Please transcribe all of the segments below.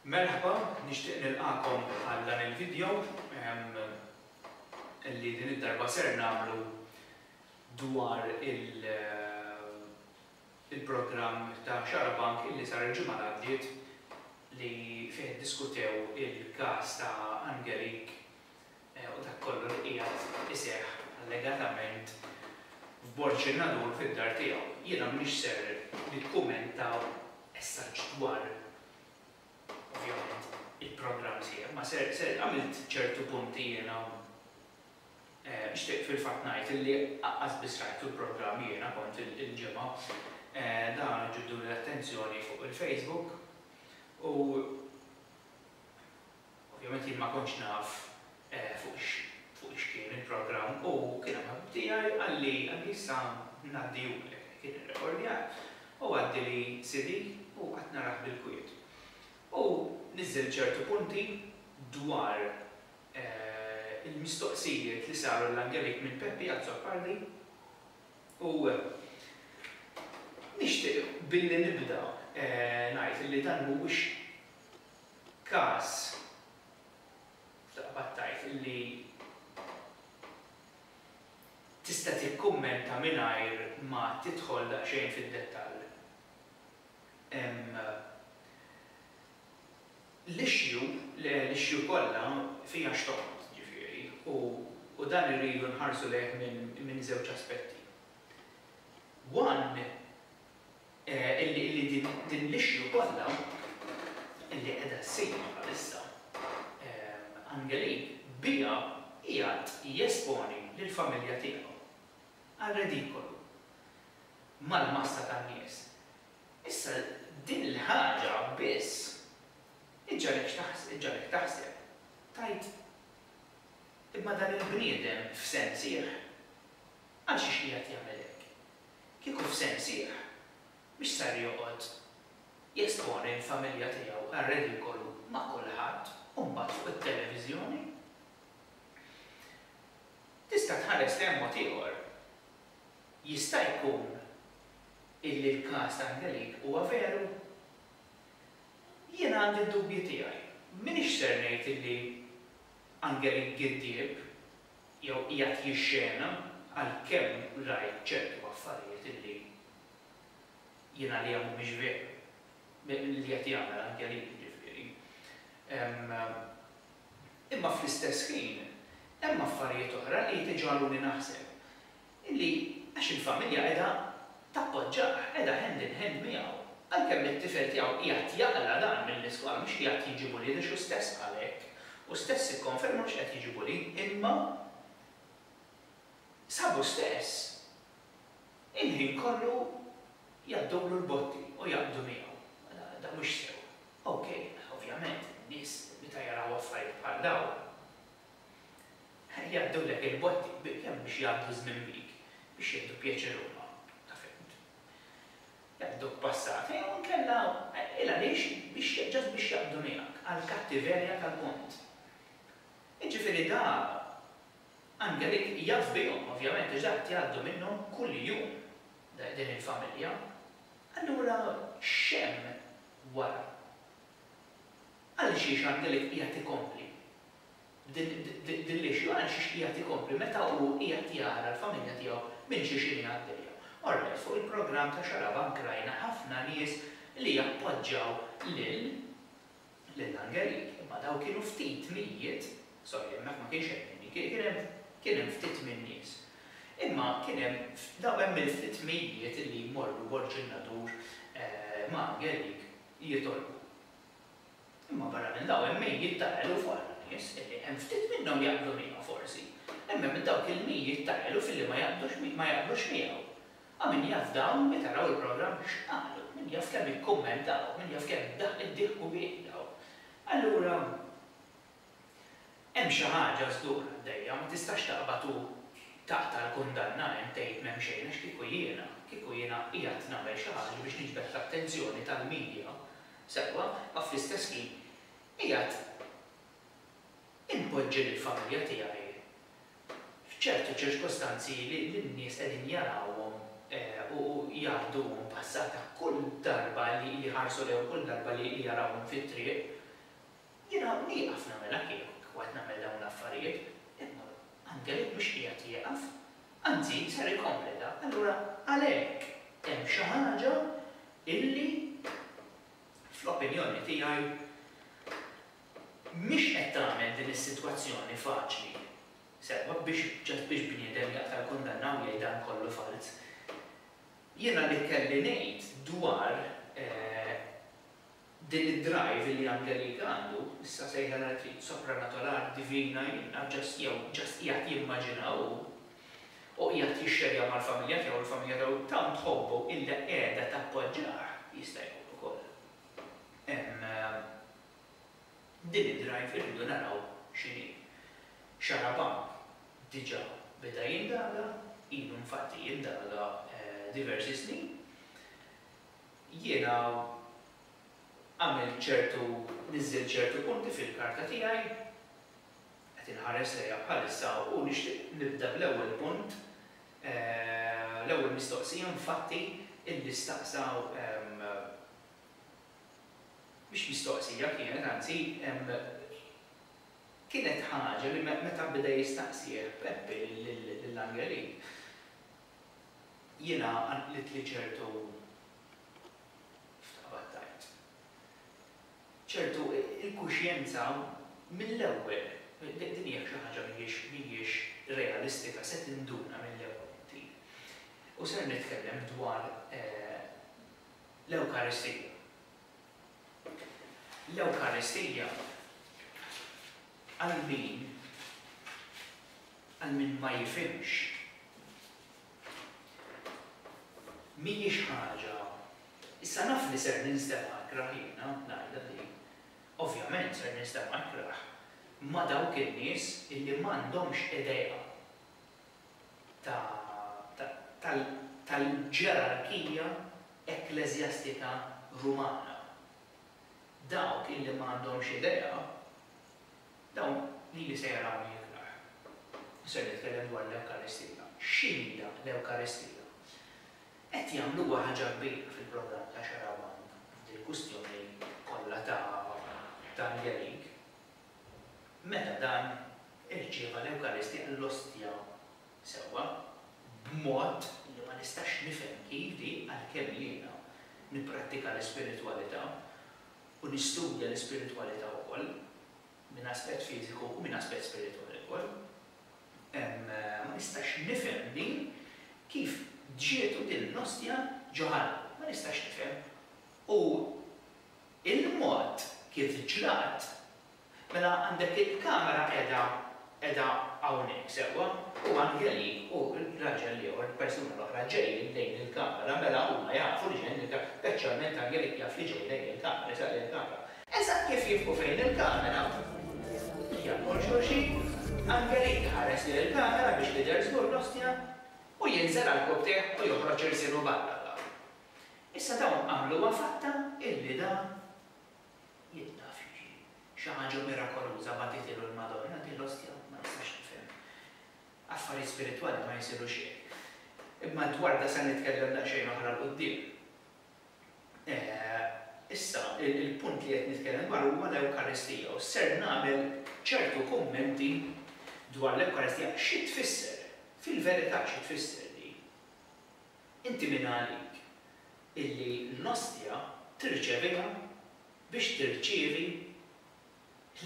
Merħba, nixtieq nilqagħkom għal dan il-video li din id-darba ser nagħmlu dwar il-programm ta' Xarabank illi sar il-ġimgħa li għaddiet li fih iddiskutew il-każ ta' Angelik u dak kollu li qiegħed iseħħ allegatament f'Borċinadur fid-dar tiegħu. Jiena m'iniex ser nikkumenta as-such dwar ovvjament il-programm sieħ, imma ser ser għamilt ċertu punti jiena u nixtieq fil-fatt ngħid illi qas biss rajtu l-programm jiena kont il-Ġimgħa. Dan ġibdu l-attenzjoni fuq il-Facebook u Ovvjament jien ma kontx naf fuq x'kien il-programm u kien hemm ħabib tiegħi qalli qalli issa ngħaddihulek. Kien irrekordjah u għaddili CD u qgħadt narah bil-kwiet. U niżżel ċertu punti dwar il-mistoqsijiet li saru l-Angelik minn Peppi Azzopardi u nixtieq billi nibda ngħid li dan mhuwiex każ taqbad tgħid li tista' tikkummenta mingħajr ma tidħol daqsxejn fid-dettall. L-issue, l-issue kollha fiha x'toqgħod, ġifieri, u dan irridu nħarsu lejh minn żewġ aspetti. One, illi din l-issue kollha illi qiegħda ssir bħalissa, Angelin biha qiegħed jesponi lill-familja tiegħu għar-redikolu mal-massa tan-nies. Issa din il-ħaġa biss iġġagħlek taħseb, tgħid, imma dan il-bniedem f'sensih għalxiex qiegħed jagħmel hekk? Kieku f'sehem sħiħ, mhux ser joqgħod jesponi l-familja tiegħu għar-redikolu ma' kulħadd u mbagħad fuq it-televiżjoni? Tista' tħares lejn mod ieħor. Jista' jkun illi l-każ ta' Angelique huwa veru? Jien għandi d-dubji tiegħi. M'iniex ser ngħid illi Angelique giddieb jew qiegħed jixxena għalkemm rajt ċertu affarijiet li jien għalija mhumiex veru, li qed jagħmel Angelin jiġifieri. Imma fl-istess ħin hemm affarijiet oħra li jtiġgħaluni naħseb illi għax il-familja qiegħda tappoġġah, qiegħda hand in hand miegħu, għalkemm it-tifel tiegħu qiegħed jaqla' dan mill-iskola mhux qiegħed jiġi bullied għax hu stess qal hekk, hu stess ikkonferma mhux qiegħed jiġi bullied imma sabu stess il-ħin kollu jgħaddulu l-botti u jaqbdu miegħu. Dan mhux sew. Okej, ovvjament, in-nies meta jaraw affarijiet bħal dawn Jgħaddulek il-botti bil-jiem biex jgħaddu ż-żmien bik, biex jieħdu pjaċir huma, ta' fehmtu. Jgħadduk passata jew inkella, il-għaliex, biex, just biex jaqbdu miegħek għall-kattiverja tal-punt. Jiġifieri da, Angelik jaf bihom, ovvjament, għax da qed jgħaddu minnhom kuljum, din il-familja. Allura x'hemm wara? Għalxiex Angelik qiegħed ikompli Din l-issue għaliex jixtieq jagħti kompli meta hu qiegħed jara l-familja tiegħu minn xi xini għaddejja. Alright, fuq il-programm ta' Xarabank rajna ħafna nies li jappoġġaw lil lil Angelik, imma dawn kienu ftit mijiet, sorry hemmhekk ma kienx hemm minni, kien hemm kien hemm ftit min-nies. Imma kien hemm dawn hemm il-ftit mijiet li jmorru Borg in-Nadur ma' Angelik jitolbu. Imma barra minn dawn hemm mijiet ta' eluf oħra nies illi hemm ftit minnhom jaqblu miegħu forsi, imma minn dawk il-mijiet ta' eluf illi ma jaqblux ma jaqblux miegħu. A min jaf dawn meta raw il-programm x'qalu, min jaf kemm ikkummentaw, min jaf kemm id-dieħku biedaw. Allura. Hemm xi ħaġa żgur għaddejja, ma tistax taqbad u taqta' l-kundanna hemm tgħid m'hemm xejn għax kieku jiena, kieku jiena qiegħed nagħmel xi ħaġa biex niġbed l-attenzjoni tal-media, sewwa, ma fl-istess ħin qiegħed inpoġġi lill-familja tiegħi f'ċertu ċirkostanzi li n-nies qegħdin jarawhom u jgħadduhom passata kull darba li jħarsu lejhom, kull darba li jarawhom fit-triq. Jiena nieqaf nagħmilha kieku qed nagħmel dawn l-affarijiet, imma Angelin mhux qiegħed jieqaf, anzi ser ikompli dan. Allura għalhekk hemm xi ħaġa illi fl-opinjoni tiegħi mhix qed tagħmel din is-sitwazzjoni faċli. Sewwa biex just biex bniedem jaqta' l-kundanna u jgħid dan kollu falz. Jiena li kelli ngħid dwar Din id-drive li Angelique għandu, issa sejħa l-art hi sopranatolar, divina, jiena just jew just qiegħed jimmaġina hu, u qiegħed jixxerja mal-familja tiegħu, il-familja tiegħu tant tħobbu illa qiegħda tappoġġah, jista' jkun ukoll hemm din id-drive irridu naraw x'inhi. Xarabank diġà beda jindaga, ilu infatti jindaga diversi snin. Jiena għamilt ċertu, niżżilt ċertu punti fil-karta tiegħi, qed inħares lejha bħalissa u nixtieq nibda bl-ewwel punt, l-ewwel mistoqsija infatti illi staqsa, mhix mistoqsija kienet anzi, kienet ħaġa li meta beda jistaqsih Peppi lil Angelin, jiena qanqlitli ċertu x'taqbad tgħid? ċertu inkuxjenza mill-ewwel, din hija xi ħaġa mhijiex realistika, se tinduna mill-ewwel inti. U ser nitkellem dwar l-Ewkaristija. L-Ewkaristija għal min Għal min ma jifhimx, mhijiex ħaġa, issa naf li ser ninstema' ikrah jiena ngħidha din, ovvjament ser ninstema' ikrah ma' dawk in-nies illi m'għandhomx idea ta' tal-ġerarkija ekkleżjastika Rumana. Dawk illi m'għandhomx idea Dawn lili se jarawni iktar. U ser nitkellem dwar l-Ewkaristija. X'inhija l-Ewkaristija? Qed jagħmluha ħaġa kbira fil-programm ta' Xarabank f'dil-kwistjoni kollha ta' dan l-għerig. Meta dan irċieva l-Ewkaristija, l-Ostja sewwa, b'mod li ma nistax nifhem kif din, għalkemm jiena nipprattika l-ispiritwalità, u nistudja l-ispiritwalità wkoll minn aspett fiżiku u minn aspett spiritwali wkoll, ma nistax nifhem din kif ġietu din l-ostja ġo ħalq. Ma nistax nifhem. U l-mod kif ġrat Mela għandek il-kamera qiegħda qiegħda hawnhekk sewwa u Anjeli u r-raġel l-ieħor, il-persuna l-oħra ġejjin lejn il-kamera, mela huma jafu li ġejjin lejn il-kamera, speċjalment Anjeli jaf li ġej lejn il-kamera, jisaq lejn il-kamera. Eżatt kif jifqu fejn il-kamera, jagħlqu 'l xulxin, Anjeli jħares lejn il-kamera biex tidher żgur l-ostja u jinżel għall-kubtejh u joħroġ irsielu barra l-art. Issa dawn għamluha fatta illi dan Jien naf li xi xi ħaġa mirakoluża bagħtitilu l-Madonna, din l-ostja ma nistax nifhimha. Affarijiet spiritwali ma jsirux hekk. Imma dwar da se nitkellem daqsxejn oħra 'l quddiem. Issa, il-punt li qed nitkellem dwaru huwa l-Ewkaristija u ser nagħmel ċertu kummenti dwar l-Ewkaristija, xi tfisser, fil-verità xi tfisser din. Inti min għalik? illi l-Ostja tirċeviha biex tirċievi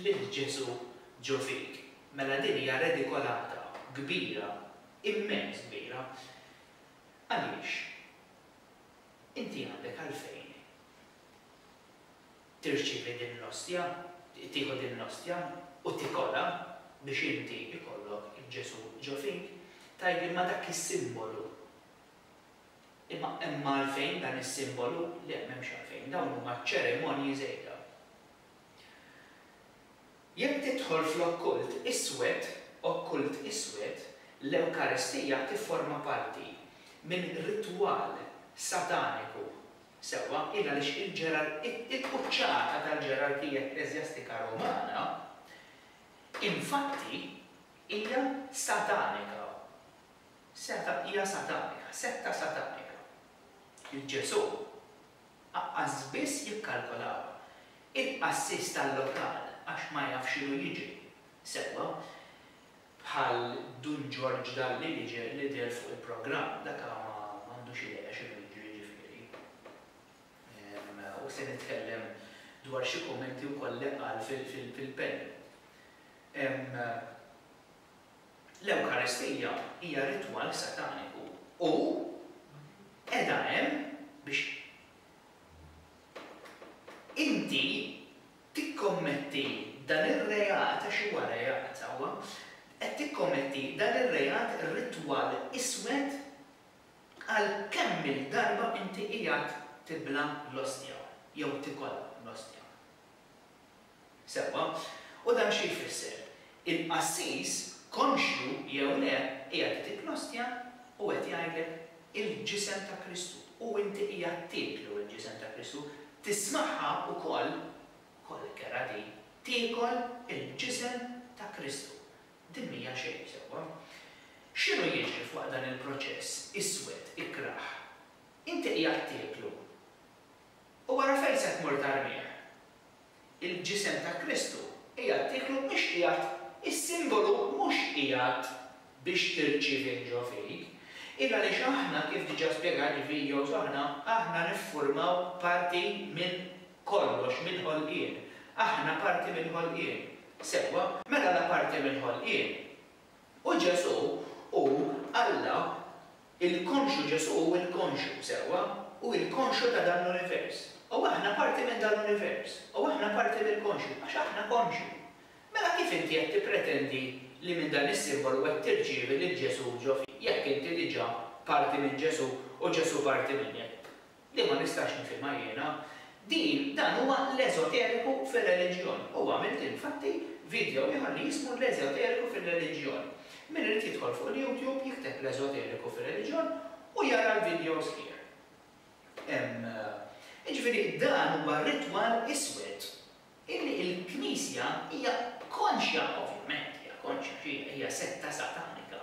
lil Ġesù ġo fik, mela din hija redikolata kbira, immens kbira, għaliex inti għandek għalfejn tirċievi din l-Ostja, tieħu din l-Ostja u tikolha biex inti jkollok Ġesù ġo fik, tgħidli ma dak is-simbolu. Imma imma għalfejn dan is-simbolu? Le, m'hemmx għalfejn, dawn huma ċerimonji żejda. Jekk tidħol fl-okkult iswed, okkult iswed, l-Ewkaristija tifforma parti minn ritwal sataniku, sewwa, il għaliex il-ġerar, il-quċċata tal-ġerarkija ekkleżjastika Rumana, infatti, hija satanika. Seta' hija satanika, setta satanika. Lil Ġesù aqqas biss jikkalkolawha. Il-qassis tal-lokal għax ma jaf x'inhu jiġri sewwa, bħal Dun Ġorġ Dalli li deher fuq il-programm, dak ma għandux idea x'inhu jiġri ġifieri. U se nitkellem dwar xi kummenti wkoll li qal fil-penny. L-Ewkaristija hija ritwal sataniku u qiegħda hemm biex inti tikkommetti dan ir-reat, għax huwa reat hawn, qed tikkommetti dan ir-reat ritwal iswed għal kemm-il darba inti qiegħed tibla' l-ostja jew tikollha l-ostja. Sewwa. U dan xi jfisser? Il-qassis, konxju jew le, qiegħed idiklostja u qed jgħidlek il-Ġisem ta' Kristu. U inti qiegħed tieklu l-Ġisem ta' Kristu, tismagħha wkoll, kollek kerha di, tiekol il-Ġisem ta' Kristu. Din m'hija xejn, sewwa. X'inhu jiġri f'waqt dan il-proċess iswed, ikrah? Inti qiegħed tieklu. U wara fejn se tmur tarmih? Il-Ġisem ta' Kristu qiegħed tieklu mhux qiegħed is-simbolu mhux qiegħed biex tirċievih ġo fik. Il għaliex aħna kif diġà spjegajt f'videos oħra, aħna niffurmaw parti minn kollox, mill-ħolqien. Aħna parti mill-ħolqien. Sewwa? Mela la parti mill-ħolqien u Ġesù hu Alla Il-konxju Ġesù hu l-konxju, sewwa, hu l-konxju ta' dan l-univers. U aħna parti minn dan l-univers. U aħna parti mill-konxju, għax aħna konxji. Mela kif inti qed tippretendi li minn dan is-simbolu qed tirċievi lil Ġesù ġo fik, jekk inti diġà parti minn Ġesù u Ġesù parti minnek? li ma nistax nifhimha jiena, din dan huwa l-eżoteriku fir-reliġjon u għamilt infatti video ieħor li jismu l-eżoteriku fir-reliġjon. Min irid jidħol fuq l-youtube jikteb l-eżoteriku fir-reliġjon u jara l-videos here. Jiġifieri dan huwa ritwal iswed Illi l-Knisja hija konxja, ovvjament hija konxja xi hija setta satanika,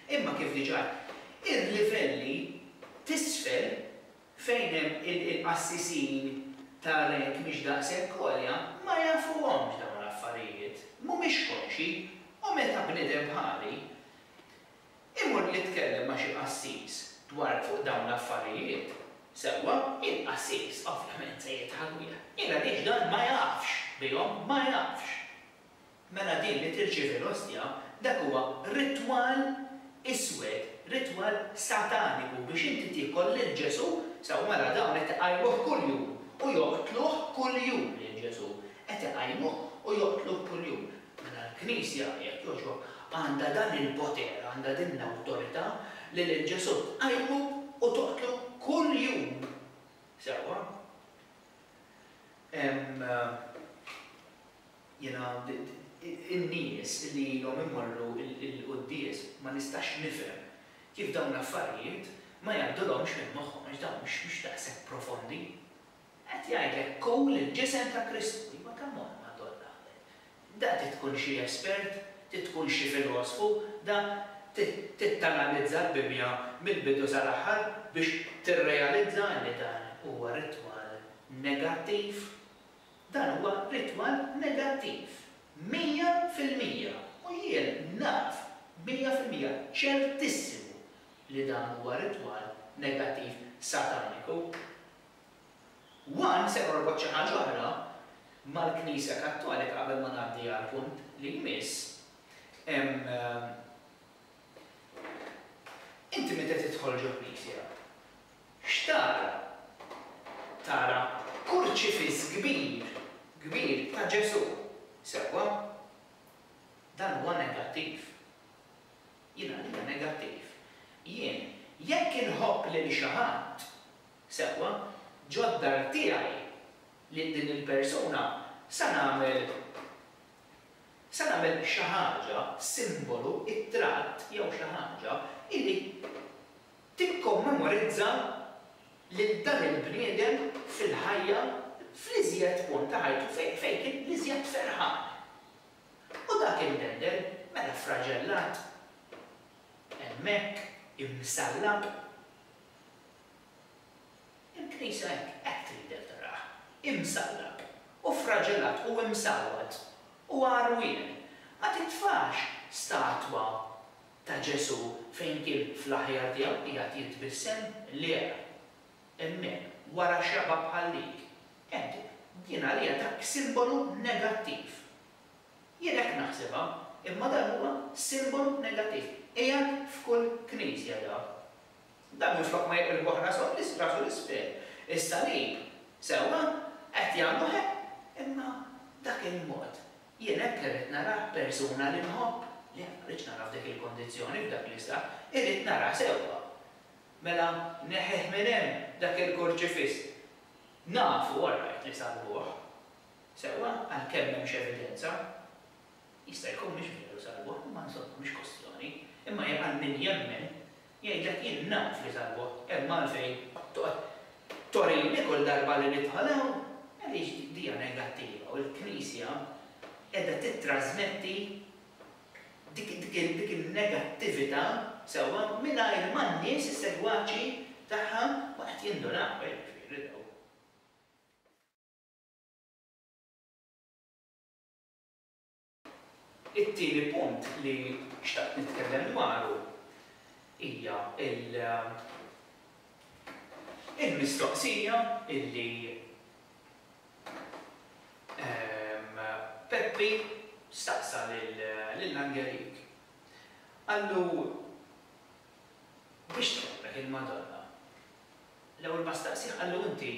imma kif diġà għedt, il-livelli t'isfel fejn hemm il-qassisin ta' rank mhix daqshekk għolja ma jafuhomx dawn l-affarijiet, mhumiex konxji u meta bniedem bħali, Imur nitkellem ma' xi qassis dwar fuq dawn l-affarijiet, sewwa? Il-qassis ovvjament se jidħak bih. Jien għaliex dan ma jafx bihom, ma jafx. Mela din li tirċievi l-ostja, dak huwa ritwal iswed, ritwal sataniku biex inti tiekol lil Ġesù, sewwa mela dawn qed iqajmuh kuljum u joqtluh kuljum lil Ġesù, qed iqajmuh u joqtluh kuljum. Mela l-Knisja, jekk jogħġbok, għandha dan il-poter, għandha din l-awtorità li lil Ġesù tqajmu u toqtlu kuljum. Sewwa? Hemm, jiena, in-nies li ilhom imorru l-quddies ma nistax nifhem kif dawn l-affarijiet ma jgħaddulhomx minn moħħhom għax dawn mhux daqshekk profondi. Qed jgħidlek Kul il-ġisem ta' Kristu. Iva come on Madonna. Da trid tkun xi espert, trid tkun xi filosfu, da trid tanalizza l-Bibbja mill-bidu sal-aħħar biex tirrealizza li dan huwa ritwal negattiv. Dan huwa ritwal negattiv. Mija fil-mija. U jien naf mija fil-mija, ċertissimu, li dan huwa ritwal negattiv sataniku. One se norbot xi ħaġa oħra mal-Knisja Kattolika qabel ma ngħaddi għall-punt li jmiss. Inti meta tidħol ġo knisja, x'tara? Tara kurċifiss kbir, kbir ta' Ġesù, sewwa? Dan huwa negattiv. Jien għalija negattiv. Jien, jekk inħobb lil xi ħadd, Sewwa, ġo d-dar tiegħi, lil din il-persuna sa nagħmel sa nagħmel xi ħaġa, simbolu, ittratt jew xi ħaġa, illi tikkommemorizza lil dan il-bniedem fil-ħajja fl-iżjed punt ta' ħajtu fejn fejn kien l-iżjed ferħan. U dak il-bendel, mela ffraġellat hemmhekk, imsallab. Il-Knisja hekk qed tridek tarah, imsallab, u ffraġelat u msawwat, u għarwien. Ma titfax statwa ta' Ġesù fejn kien fl-aħjar tiegħu qiegħed jitbissem, le, hemmhekk, wara xaba' bħal dik. Hekk, din għalija dak simbolu negattiv. Jien hekk naħsibha, imma dan huwa simbolu negattiv. Qiegħed f'kull knisja dak. Dan minflok ma jiqilbu ħrasu għal isfrax u l-isfel. Is-salib, sewwa, qed jagħmlu hekk, imma dak il-mod. Jien hekk irrid narah persuna li nħobb. Le, ma rridx narah f'dik il-kondizzjoni, f'dak l-istat. Irrid narah sewwa. Mela neħħih minn hemm dak il-kurċifiss. Nafu, all right, li salbuh. Sewwa, għalkemm m'hemmx evidenza. Jista' jkun mhix veru salbuh, imma insomma, mhix kwistjoni. Imma għal min jemmen, Jgħidlek jien naf li tal-bogħod hemm għalfejn toqgħod torini kull darba li nidħol hawn, għaliex dija negattiva u l-Knisja qiegħda tittrasmetti dik in-negattività, sewwa, mingħajr ma n-nies, is-segwaċi tagħha ma qed jindunaw, eh, jiġifieri dawk. It-tieni punt li xtaqt nitkellem dwaru hija l-mistoqsija li Peppi staqsa lil Angelik. Qallu, Biex tħobbek il-Madonna? L-ewwel ma staqsih qallu, Inti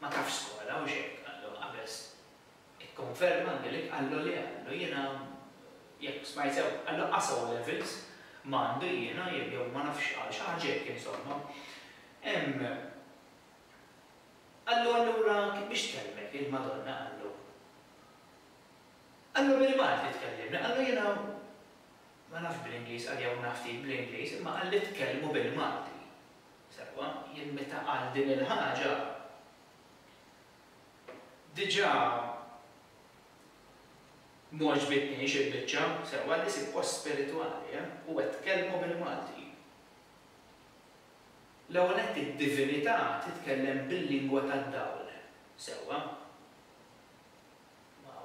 ma tafx skola, hux hekk? Qallu, Qabeż, Ikkonferma anke li qallu li għandu jiena jekk smajt sew qallu qasgħu levels ma għandu jiena jew ma nafx qal xi ħaġa hekk insomma. Hemm qallu allura biex tkellmek il-Madonna qallu qallu bil-Malti tkellimni qallu jiena ma nafx bl-Ingliż qal jew naf ftit bl-Ingliż imma qalli tkellmu bil-Malti. Sewwa jien meta qal din il-ħaġa Diġà m'għoġbitnix il-biċċa sewwa li sibt post spiritwali, eh? U qed tkellmu bil-Malti. L-ewwel nett id-divinità titkellem bil-lingwa tad-dawl, sewwa? Ma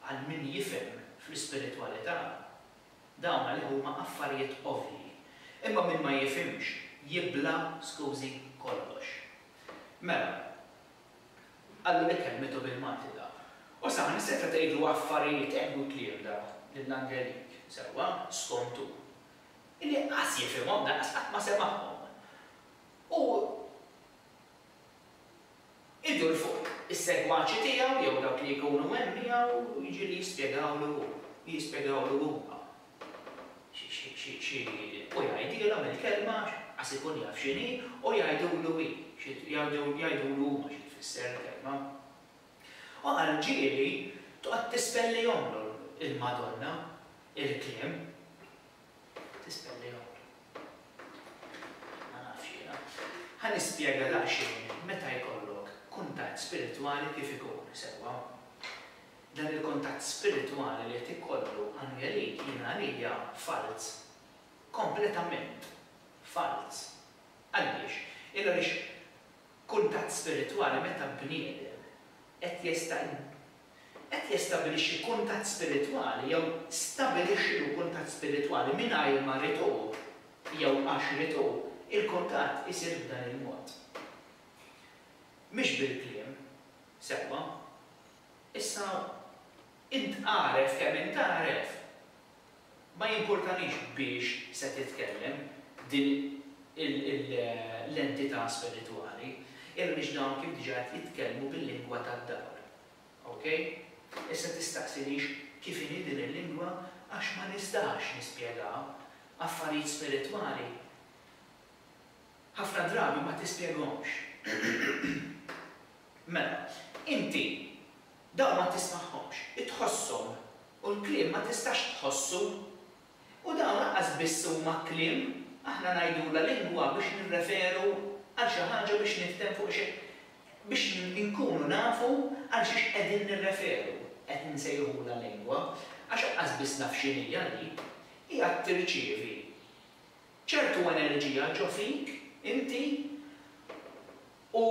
għal min jifhem fl-ispiritwalità, dawn għalih huma affarijiet ovvji. Imma min ma jifhimx jibla', skużi, kollox. Mela, qallu li kellmitu bil-Malti da. U saħansitra tgħidlu affarijiet hekk u kliem da lil Angelik, sewwa, skont hu, illi qas jifhimhom lanqas qatt ma semagħhom. U idur fuq is-segwaċi tiegħu jew dawk li jkunu hemm miegħu jiġieli jispjegawlu hu, jispjegawlu huma. xi u jgħidilha mill-kelma qas ikun jaf x'inhi u jgħidulu hi xi jgħidulu huma xi tfisser il-kelma. U għal ġieli toqgħod tispellihomlu l-Madonna il-kliem. Tispellihomlu. Ma nafx jiena. Ħa nispjega daqsxejn meta jkollok kuntatt spiritwali kif ikun, sewwa. Dan il-kuntatt spiritwali li qed ikollu Angeline jien għalija falz. Kompletament falz. Għaliex? Il għaliex kuntatt spiritwali meta bniedem qed jesta qed jestabilixxi kuntatt spiritwali jew stabilixxi lu kuntatt spiritwali mingħajr ma rid hu jew għax rid hu, il-kuntatt isir b'dan il-mod. Mhix bil-kliem. Sewwa. Issa, int għaref kemm int għaref, ma jimpurtanix biex se titkellem din l-entità spiritwali, għaliex dawn kif diġà qed jitkellmu bil-lingwa tad-dawl. Okej? Issa tistaqsinix kif inhi din il-lingwa għax ma nistax nispjegaha, affarijiet spiritwali ħafna drabi ma tispjegahomx. Mela, inti dawn ma tismagħhomx, tħosshom, u l-kliem ma tistax tħossu. U dawn lanqas biss huma kliem, aħna ngħidulha lingwa biex nirreferu għal xi ħaġa biex niftem fuq xi biex inkunu nafu għal xiex qegħdin nirreferu qed nsejħulha lingwa għax lanqas biss naf x'inhija din. Hija tirċievi ċertu enerġija ġo fik, inti, u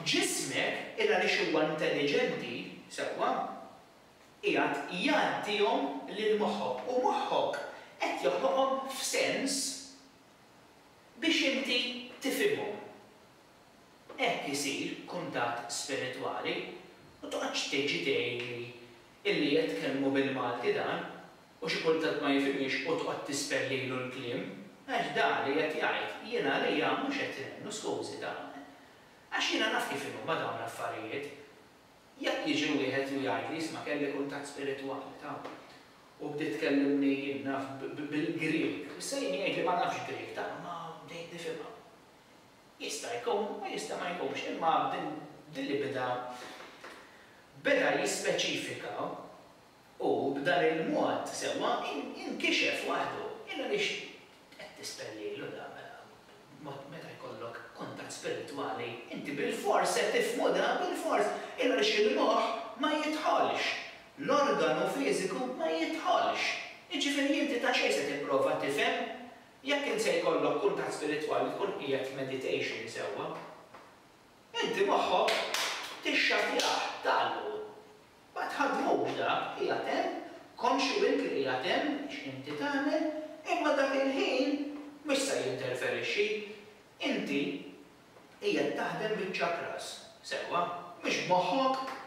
ġismek, il għaliex huwa intelliġenti, sewwa, qiegħed jgħaddihom lil moħħok u moħħok qed joħloqhom f'sens biex inti tifhimhom. Hekk isir kuntatt spiritwali u toqgħodx tiġi tgħidli illi qed tkellmu bil-Malti dan. u xi kultant ma jifhimhiex u tqgħod tispell lilu l-kliem, għax da li qed jgħid jien għalija mhux qed inemmnu skużi dawn. Għax jiena naf kif inhuma dawn l-affarijiet. Jekk jiġi wieħed u jgħidli isma' kelli kuntatt spiritwali ta' u bdiet tkellimni jien naf bil-Grieg, issa jien jgħidli ma nafx Grieg ta' imma bdejt nifhimha. Jista' jkun u jista' ma jkunx imma b'din li beda beda jispeċifika U b'dan il-mod sewwa inkixef waħdu. Illa għaliex qed tispellilu dan mela? Mod meta jkollok kuntatt spiritwali inti bilfors se tifhmu dan, bilfors. Illa għaliex il-moħħ ma jidħolx. L-organu fiżiku ma jidħolx. Jiġifieri inti ta' xejn se tipprova tifhem jekk int se jkollok kuntatt spiritwali tkun qiegħed f'meditation sewwa. Inti moħħok tixxattjah, tgħallqu. Ma tħaddmux dak, qiegħed hemm, konxju int li qiegħed hemm, x'inti tagħmel, imma dak il-ħin mhux se jinterferixxi. Inti qiegħed taħdem biċ-chakras, sewwa, mhux b'moħħok.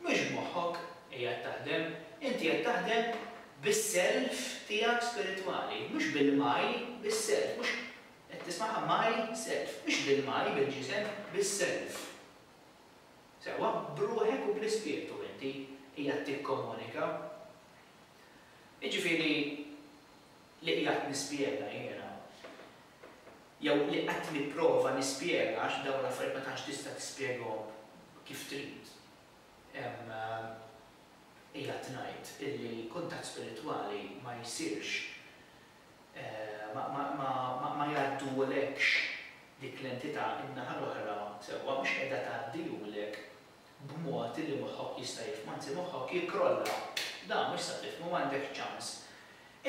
Mhux b'moħħok qiegħed taħdem, inti qiegħed taħdem bis-self tiegħek spiritwali, mhux bil-my, bis-self, mhux, qed tismaha my self, mhux bil-my, bil-ġisem, bis-self. Sewwa, b'ruħek u bl-Ispirtu inti qiegħed tikkomunika. Jiġifieri, li qiegħed nispjega jiena, jew li qed nipprova nispjega, għax dawn l-affarijiet ma tantx tista' tispjegahom kif trid, qiegħed ngħid illi kuntatt spiritwali ma jsirx ma jgħaddulekx dik l-entità in-naħa l-oħra sewwa mhux qiegħda tgħaddihulek b'mod li moħħok jista' jifhmu anzi moħħok jikkrolla dan mhux se tifhmu m'għandekx ċans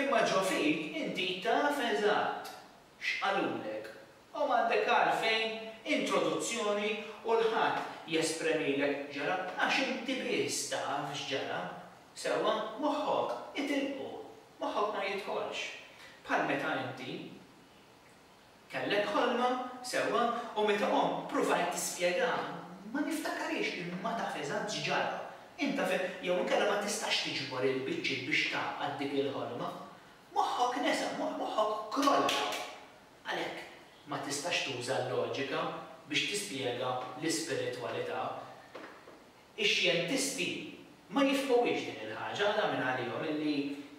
imma ġo fik inti taf eżatt x'qalulek u m'għandek għalfejn introduzzjoni u l ħadd jespremilek x'ġara għax inti biss taf x'ġara sewwa moħħok itilqu. Moħħok ma jidħolx. Bħal meta inti kellek ħolma, sewwa, u meta qomt ppruvajt tispjegha, ma niftakariex li ma taf eżatt x'ġara. Int taf jew inkella ma tistax tiġbor il-biċċiet biex tgħaqqad dik il-ħolma. Moħħok nesa, moħħok krolla. Għalhekk ma tistax tuża l-loġika biex tispjega l-ispiritwalità. Ix-xjentisti ma jifhmuhiex din il-ħaġa, għala minn għalihom illi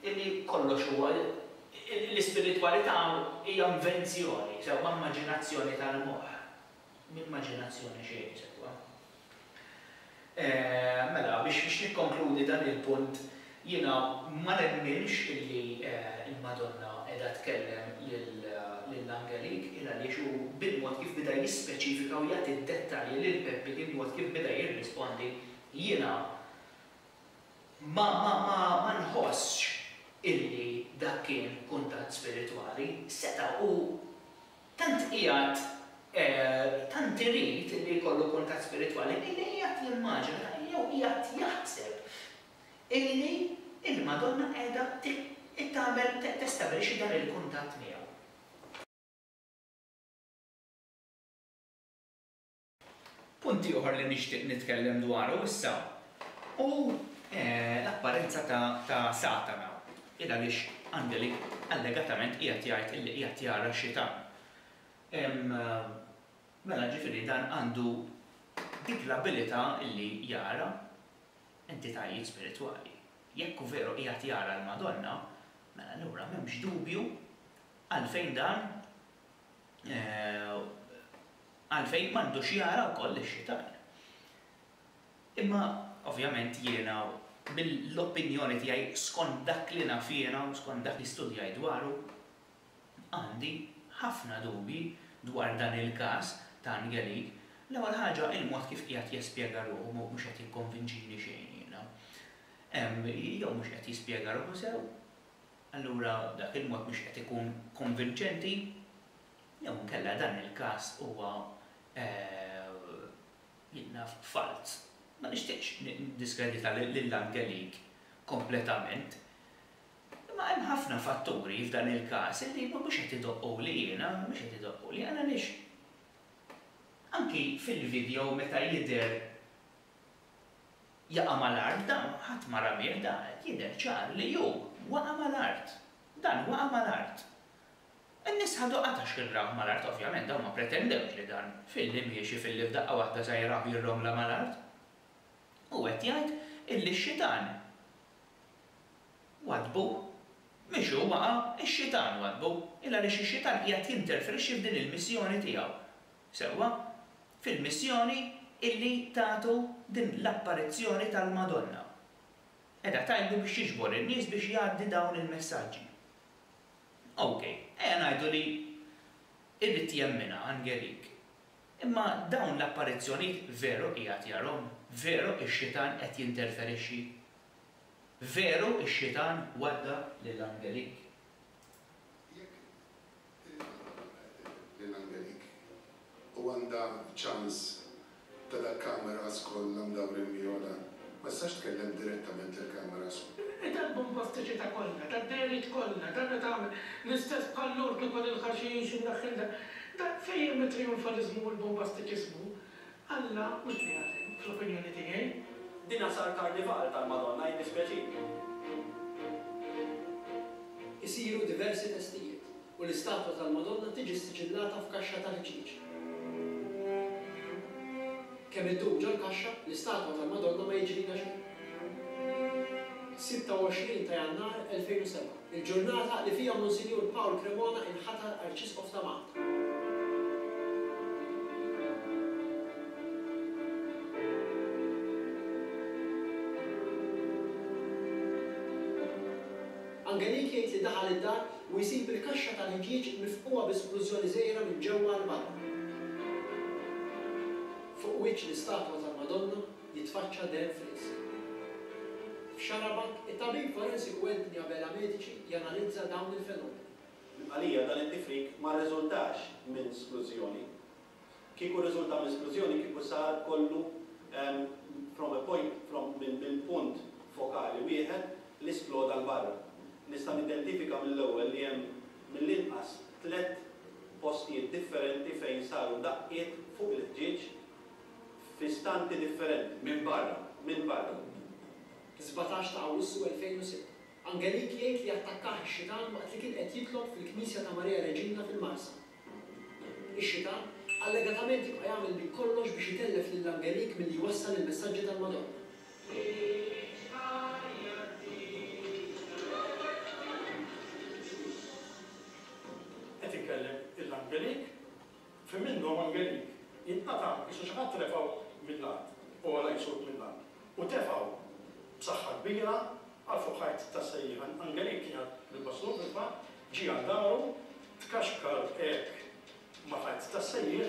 illi kollox huwa l-ispiritwalità hija invenzjoni, sewwa immaġinazzjoni tal-moħħ. M'immaġinazzjoni xejn, sewwa. Mela, biex biex nikkonkludi dan il-punt, Jiena ma nemminx illi l-Madonna qiegħda tkellem lil Angelique, il għaliex hu bil-mod kif bida jispeċifika u jagħti d-dettalji lil Peppi kien mod kif bida jirrispondi, jiena ma ma ma ma nħossx illi dak kien kuntatt spiritwali, seta' hu tant qiegħed tant irid illi jkollu kuntatt spiritwali illi qiegħed jimmaġina jew qiegħed jaħseb illi il-Madonna qiegħda tagħmel testabbilixxi dan il-kuntatt miegħu. Punt ieħor li nixtieq nitkellem dwaru issa hu l-apparenza ta' Satana, il-għaliex Angeli allegatament qiegħed jgħid illi qiegħed jara xitan. Mela ġifieri dan għandu dik l-abilità illi jara entitajiet spiritwali. Jekk hu veru qiegħed jara l-Madonna, mela allura m'hemmx dubju għalfejn dan għalfejn m'għandux jara wkoll lix-xitan. Imma ovvjament jiena bil-opinjoni tiegħi skont dak li naf jiena u skont dak li studjajt dwaru, Għandi ħafna dubji dwar dan il-każ ta' Angelique. L-ewwel ħaġa, il-mod kif qiegħed jespjega ruħu mhux qed jikkonvinċini xejn jiena. Jew mhux qed jispjega ruħu sew, allura dak il-mod mhux qed ikun konvinċenti, jew inkella dan il-każ huwa jinnaf falz. Ma nixtieqx niddiskredita lil Angelique kompletament. Imma hemm ħafna fatturi f'dan il-każ li mhumiex qed idoqquli jiena, mhumiex qed idoqquli jiena għaliex anki fil-video meta jidher jaqa' mal-art dan ħadd ma ramih dan qed jidher ċar li hu waqa' mal-art. Dan waqa' mal-art. In-nies ħadu qatax kien rawh mal-art ovvjament dawn ma pretendewx li dan filli miexi filli f'daqqa waħda sa jaraw jirromla mal-art. Hu qed jgħid illi x-xitan Waddbu. Mhix hu waqa', ix-Xitan waddbu. Il għaliex ix-Xitan qiegħed jinterferixxi f'din il-missjoni tiegħu. Sewwa? Fil-missjoni illi tatu din l-apparizzjoni tal-Madonna. Qiegħda tgħidlu biex jiġbor in-nies biex jgħaddi dawn il-messaġġi. Ok, ejja ngħidu li jrid jemminha Angelik. Imma dawn l-apparizzjonijiet veru qiegħed jarhom? Veru ix-Xitan qed jinterferixxi Veru ix-xitan wadda lil Angelik? Jekk il-mara laqgħet lil Angelik u għandha ċans ta' dak cameras kollha mdawrin miegħu dan, ma tistax tkellem direttament lill-cameras? Itellbu mill-pastiċità kollha, tad-dehriet kollha, dan qed tagħmel l-istess bħal lortu ta' lill-ħaxix inneħħilha. Dan fejn hemm it-triunfaliżmu u l-bombasticiżmu? Alla u l-Kreatur, fl-opinjoni tiegħi. Dina sar karnival tal-Madonna jiddispjaċini. Isiru diversi testijiet u l-istatwa tal-Madonna tiġi ssiġillata f'kaxxa ta' ħġieġ. Kemm iddum ġol-kaxxa, l-istatwa tal-Madonna ma jiġrilha xejn. 26 ta' Jannar 2007. Il-ġurnata li fiha Monsinjur Paul Cremona inħatar Arċisqof ta' Malta. Angelik jgħid li daħal id-dar u jsib il-kaxxa tal-ħġieġ mifqugħa bi splużjoni żgħira minn ġewwa għal barra. Fuq wiċċ l-istatwa tal-Madonna jitfaċċa deheb fl-insib. F'Xarabank, it-tabib forensiku Anthony Abela Medici janalizza dawn il-fenomeni. Għalija, dan it-tifrik ma rriżultax minn sklużjoni. Kieku rriżulta minn sklużjoni kieku sar kollu from a point from minn punt fokali wieħed li sploda 'l barra. Nista' nidentifika mill-ewwel li hemm mill-inqas tliet postijiet differenti fejn saru daqqiet fuq il-ħġieġ fi stampi differenti, minn barra, minn barra. Fis-sbatax ta' Awwissu 2006, Angelique jgħid li attakkah ix-xitan waqt li kien qed jitlob fil-knisja ta' Maria Reġina fil-Marsa. Ix-xitan allegatament jibqa' jagħmel minn kollox biex itellef lil Angelique milli jwassal il-messaġġi tal-Madonna. Għidx ħajja ġdida. Qed inkellem 'il Angelique. F'ħin minnhom Angelik jinqata' għax xi ħadd refgħu mill-art, u għala jsut mill-art, u tefgħu b'saħħa kbira għal fuq ħajt tas-sejjieħ. Angelik kien jgħadd bil-bastun fil-fatt, ġie għal daru, tkaxkar hekk ma' ħajt tas-sejjieħ.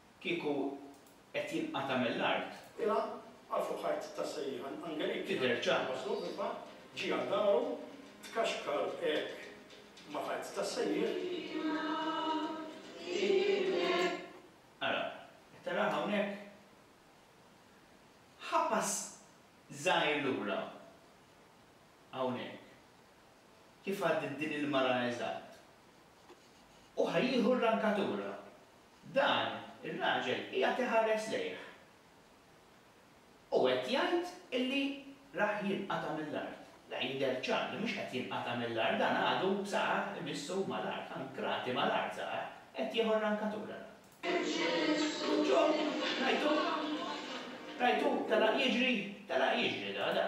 kieku qed jinqata' mill-art. Ilha għal fuq ħajt ta' sejħan Angelik tidher ċar. Waslu imma ġie għal daru tkaxkar hekk ma' ħajt ta' sejħan. Ara, qed taraha hawnhekk? Ħa pass żgħir lura hawnhekk kif għaddiet din il-mara eżatt u ħa jieħu r-rankatura. Dan ir-raġel qiegħed iħares lejh u qed jgħid illi rah jinqata' mill-art. Le, jidher ċar li mhux qed jinqata' mill-art, dan għadu b'saqajh imissub mal-art, ankrati mal-art saqajh, qed jieħu r-rankatura dan. Ġo, rajtuh? Rajtuh telaq jiġri? Telaq jiġri da, da.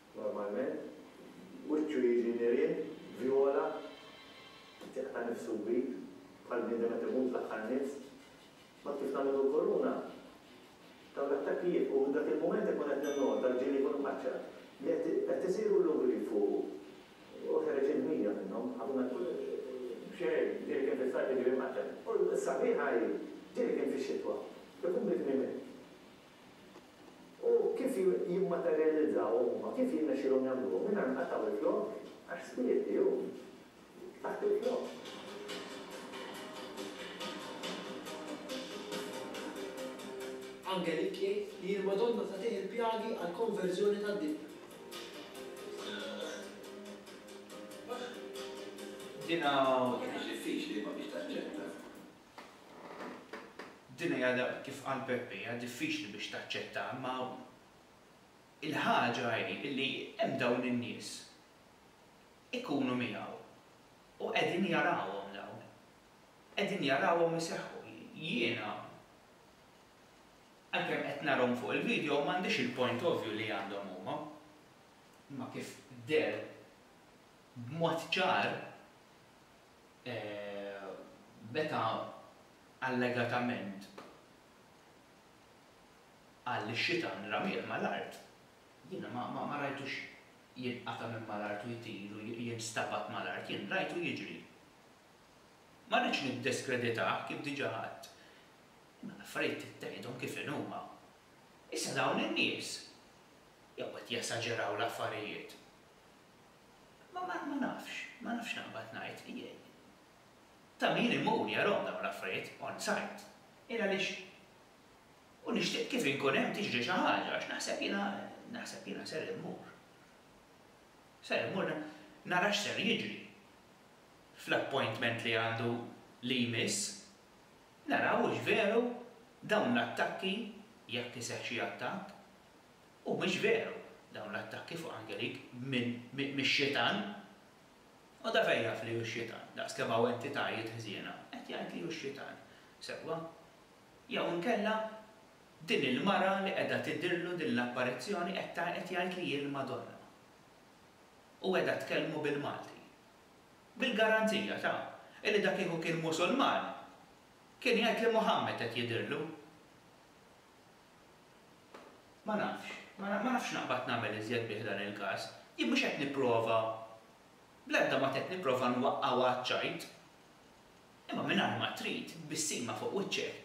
normalment, wiċċu jiġi nirien, vjola, qed jaqta' nifsu kbir, bħal bniedem qed imut l-aħħar nifs. Mbagħad kif nagħmillu l-koruna? Dawn l-attakki jibqgħu u dak il-mument inkun qed ninnota, l-ġieli jkunu mħaċċar, li qed isiru l-lugriet fuqu. U ħereġ il-ħmija minnhom, ħafna xejn, ġieli kien fis-sajf jiġri mħaċċar. U s-sabiħa hi, ġieli kien fix-xitwa, ikun bit-tmiem hekk. U kif jimmaterjalizzaw huma, kif jirnexxielhom jagħmluhom mingħajr ma jqattgħu l-flokk, għax swieti hu taħt il-flokk. Angelik jgħid li l-Madonna tagħtih il-pjagi għall-konverżjoni tad-dinja. Dinha ma kinitx diffiċli imma biex taċċetta. Din hija darba, kif qal Peppe, hija diffiċli biex taċċettah imma hawn. Il-ħaġa hi illi hemm dawn in-nies. Ikunu miegħu. U qegħdin jarawhom dawn. Qegħdin jarawhom iseħħu. Jiena, għalkemm qed narahom fuq il-video, m'għandix il-point of view li għandhom huma. Imma kif deher b'mod ċar, e meta allegatament qal li x-xitan ramieh mal-art, jiena ma rajtux jinqata' minn mal-art u jtir u jinstabad mal-art, jien rajtu jiġri. Ma rridx niddeskreditah, kif diġà għedt, imma l-affarijiet trid tgħidhom kif inhuma. Issa dawn in-nies jew qed jesaġeraw l-affarijiet Ma, ma, ma nafx, ma nafx x'naqbad ngħid, jgħid. Ta' min imur jarahom dawn l-affarijiet on site. Jien għaliex u nixtieq kif inkun hemm tiġri xi ħaġa għax naħseb jiena, naħseb jiena ser immur. Ser immur nara x'ser jiġri fl-appointment li għandu li jmiss, naraw hux veru dawn l-attakki, jekk iseħħ xi attakk, Humiex veru dawn l-attakki fuq Angelique minn mix-Xitan? U da fejn jaf li hu x-Xitan, daqs kemm hawn entitajiet ħżiena? Qed jgħid li hu x-Xitan, sewwa? Jew inkella din il-mara li qiegħda tidhirlu din l-apparizzjoni qed qed jgħid li hi l-Madonna? U qiegħda tkellmu bil-Malti? Bil-garanzija ta' illi da kieku kien Musulman kien jgħid li Muhammad qed jidhirlu! Ma nafx. Ma nafx naqbad nagħmel iżjed bih dan il-każ. Jien mhux qed nipprova, bl-ebda mod qed nipprova nwaqqgħu għaċ-ċajt. Imma mingħajr ma trid, b'bissima fuq wiċċek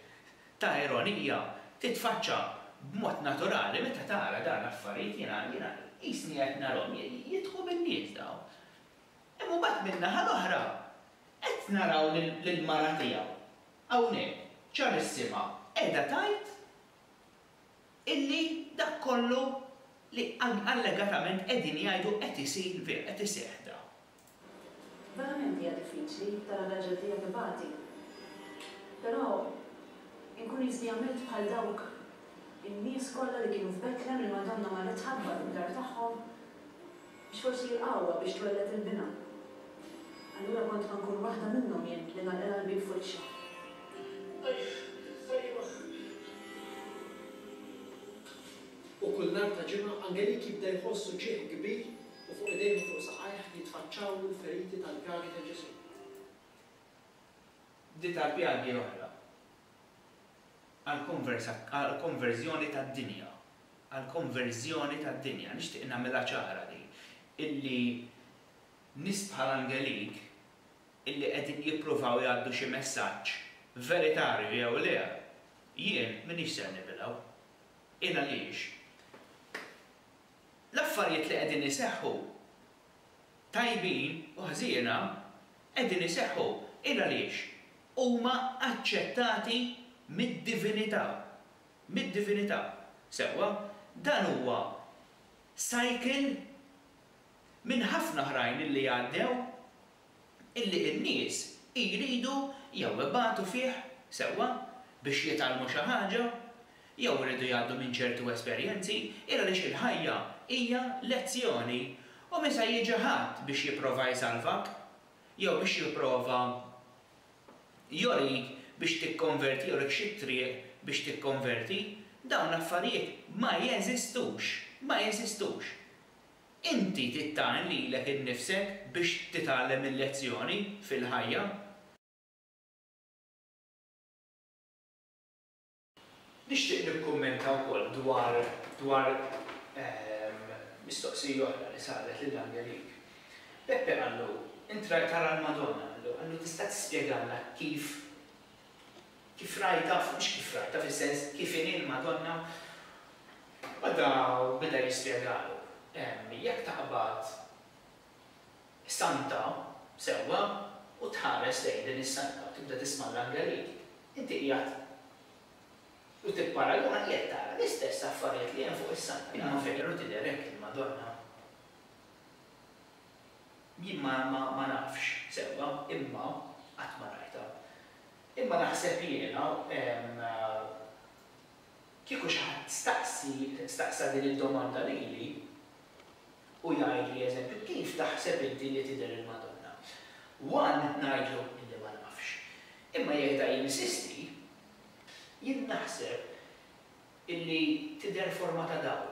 ta' ironija titfaċċa b'mod naturali meta tara dawn l-affarijiet, jiena, jiena qisni qed narahom jidħu bin-nies dawn. Imma mbagħad min-naħa l-oħra qed naraw lill-mara tiegħu Hawnhekk Carissima qiegħda tgħid illi dak kollu li allegatament qegħdin jgħidu qed isir vera, qed iseħħ da. Verament hija diffiċli tara r-raġel tiegħek ibati. Però inkun jisni għamilt bħal dawk in-nies kollha li kienu f'Betlem li l-Madonna marret tħabbat id-dar tagħhom Biex forsi l-qawwa biex twelled il-binha. Allura kont ma nkun waħda minnhom jien li nagħlqilha l-bieb f'wiċċha. Ajjh! Ajjh! U kull nhar ta' ġimgħa Angelik jibda jħoss uġigħ kbir u fuq idejh u fuq saqajh jitfaċċawlu l-feriti tal-pjagi ta' Ġesù. Bdiet għall-pjagi l-oħra. għall-konverżjoni tad-dinja, għall-konverżjoni tad-dinja. Nixtieq nagħmilha ċara din, illi nies bħal Angelique illi qegħdin jippruvaw jgħaddu xi messaġġ, veritarju jew le, jien m'iniex ser nibilgħu. Hi għaliex l-affarijiet li qegħdin iseħħu, tajbin u ħżiena, qegħdin iseħħu. Hi għaliex. huma aċċettati mid-divinità. Mid-divinità. Sewwa, dan huwa cycle minn ħafna oħrajn illi għaddew illi n-nies ijridu jew ibatu fih, sewwa, biex jitgħallmu xi ħaġa, jew iridu jgħaddu minn ċertu esperjenzi, il għaliex il-ħajja hija lezzjoni u misa jiġi ħadd biex jipprova jsalvak, jew biex jipprova joriik biex tikkonverti, joriik xi triq biex tikkonverti, dawn l-affarijiet ma jeżistux, ma jeżistux. Inti tittgħin lilek innifsek biex titgħallem il-lezzjoni fil-ħajja. Nixtieq nikkummenta wkoll dwar dwar mistoqsija oħra li saret lil Angelik. Beppe qallu, Intra tara l-Madonna, qallu, qallu tista' tispjegalna kif kif rajtha, mhux kif rajtha, fis-sens kif inhi l-Madonna? Bada beda jispjegalu, Jekk taqbad, Santa, sewwa, u tħares lejn din is-santa u tibda tisma' l-angelit, inti qiegħed u tipparaguna qiegħed tara l-istess affarijiet li hemm fuq is-santa. Imma veru tidher hekk il-Madonna? Jien ma ma nafx sewwa, imma qatt ma rajtha. Imma naħseb jiena, Kieku xi ħadd staqsi, staqsa din id-domanda lili, u jgħidli, eżempju, kif taħseb inti li tidher il-Madonna? One ngħidlu illi ma nafx. Imma jekk da jinsisti, jien naħseb illi tidher forma ta' dawl.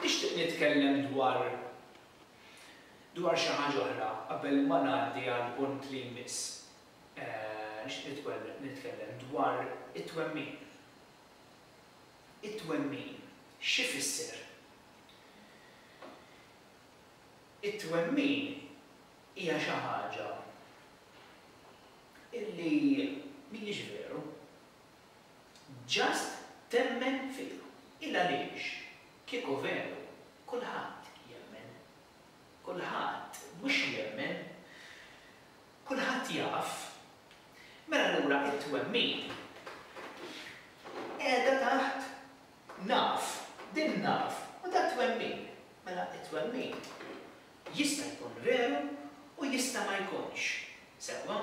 Nixtieq nitkellem dwar dwar xi ħaġa oħra qabel ma ngħaddi għall-punt li jmiss. Nixtieq nitkellem dwar it-twemmin. It-twemmin x'ifisser? It-twemmin hija xi ħaġa illi mhijiex veru. Just temmen fija. Ilgħaliex, kieku veru, kulħadd jemmen. Kulħadd mhux jemmen. Kulħadd jaf. Mela allura t-twemmin qiegħda taħt naf. Din naf u dan twemmin. Mela t-twemmin jista' jkun veru u jista' ma jkunx. Sewwa?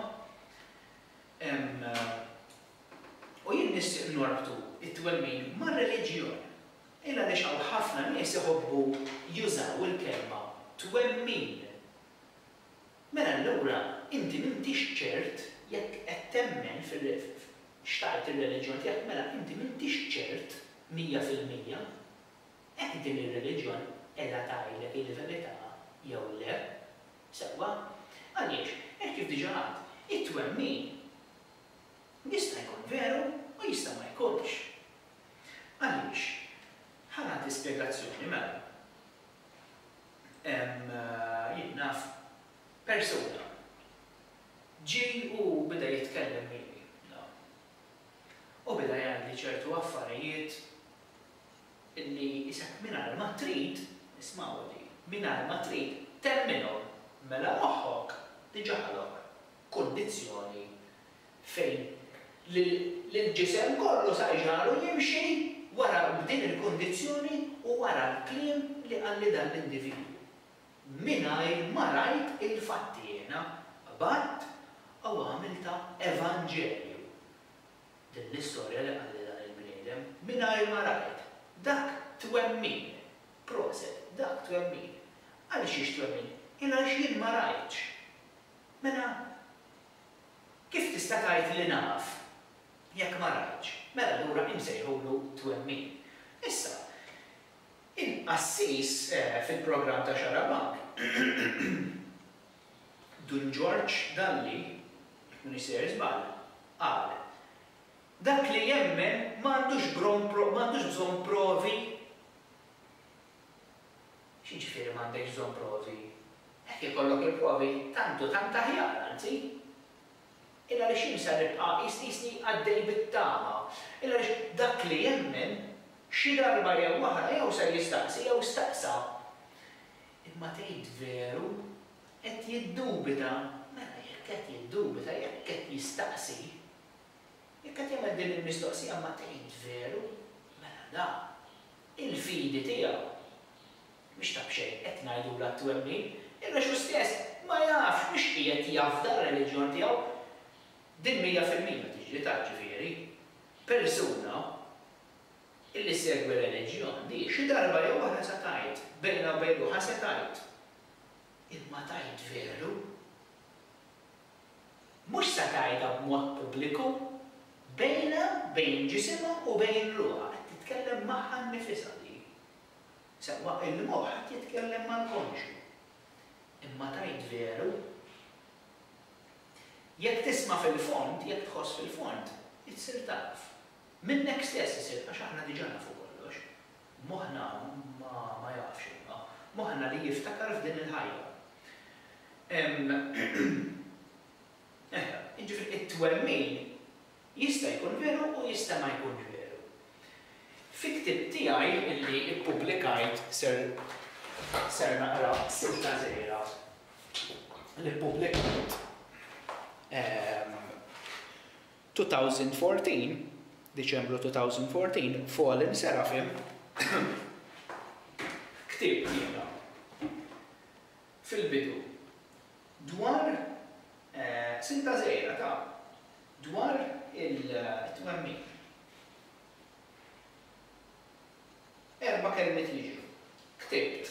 U jien nixtieq norbtu t-twemmin mar-reliġjon. Il għaliex hawn ħafna nies iħobbu jużaw il-kelma twemmin. Mela allura inti m'intix ċert jekk qed temmen f'x'tgħid ir-reliġjon tiegħek, mela inti m'intix ċert mija fil-mija hekk din ir-reliġjon qiegħda tgħidlek il-verità jew le. Sewwa. Għaliex, hekk kif diġà għadt, it-twemmin jista' jkun veru u jista' ma jkunx. Għaliex? Ħa nagħti spjegazzjoni, mela. Hemm, jien naf, persuna. Ġie u beda jitkellem miegħi, naf. U beda jgħidli ċertu affarijiet Illi jqisek mingħajr ma trid, ismgħuha din, mingħajr ma trid temmilhom, mela moħħok diġà ħalok kundizzjoni fejn lill-ġisem kollu sa jġagħlu jimxi wara b'din il-kundizzjoni u wara l-kliem li qalli dan l-individwu. Mingħajr ma rajt il-fatti jiena qbadt u għamiltha evanġelju. Din l-istorja li qalli dan il-bniedem mingħajr ma rajt. Dak twemmin! Proset, dak twemmin! Għaliex hix twemmin? Il għaliex jien ma rajtx. Mela kif tista' tgħid li naf jekk ma rajtx? Mela allura insejħulu twemmin. Issa, il-qassis fil-programm ta' Xarabank Dun Ġorġ Dalli, jekk m'iniex sejjer żball, qal, Dak li jemmen ma għandux bron pro, ma għandux bżonn provi. X'jiġifieri m'għandekx bżonn provi? Hekk ikollok il-provi tant u tant aħjar, anzi. Illa għaliex jien ser nibqa' qis, qisni għaddej bit-tama. Illa għaliex dak li jemmen, xi darba jew oħra jew ser jistaqsi jew staqsa. Imma tgħid veru, qed jiddubita, mela jekk qed jiddubita, jekk qed jistaqsi, jekk qed jagħmel din il-mistoqsija ma tgħid veru, mela da, il-fidi tiegħu mhix ta' b'xejn, qed ngħidulha t-twemmin, għax hu stess ma jafx mhux qiegħed jafda r-reliġjon tiegħu. Din mija fil-mija tiġri ta' ġifieri, persuna, Illi ssegwi r-reliġjon, di, xi darba jew oħra sa tgħid, bejna u bejn ruħha se tgħid, Imma tgħid veru? Mhux sa tgħidha b'mod pubbliku, bejna, bejn ġisimha u bejn ruħha, qed titkellem magħha nnifisha di. Sewwa, il-moħħ qed jitkellem mal-konxju. Imma tgħid veru? Jekk tisma' fil-fond, jekk tħoss fil-fond, issir taf. Minnek stess isir għax aħna diġà nafu kollox. Moħħna ma jafx imma, moħħna li jiftakar f'din il-ħajja. Ehm, eħe, jiġifieri it-twemmin jista' jkun veru u jista' ma jkunx veru. Fi ktieb tiegħi li ppubblikajt ser ser naqra silta żgħira li ppubblikajt, ehm, 2014, Diċembru 2014, Fallen Seraphim ktieb tiegħha fil-bidu dwar silta żgħira ta' dwar it-twemmin. Erba' kelmiet jiġru. Ktibt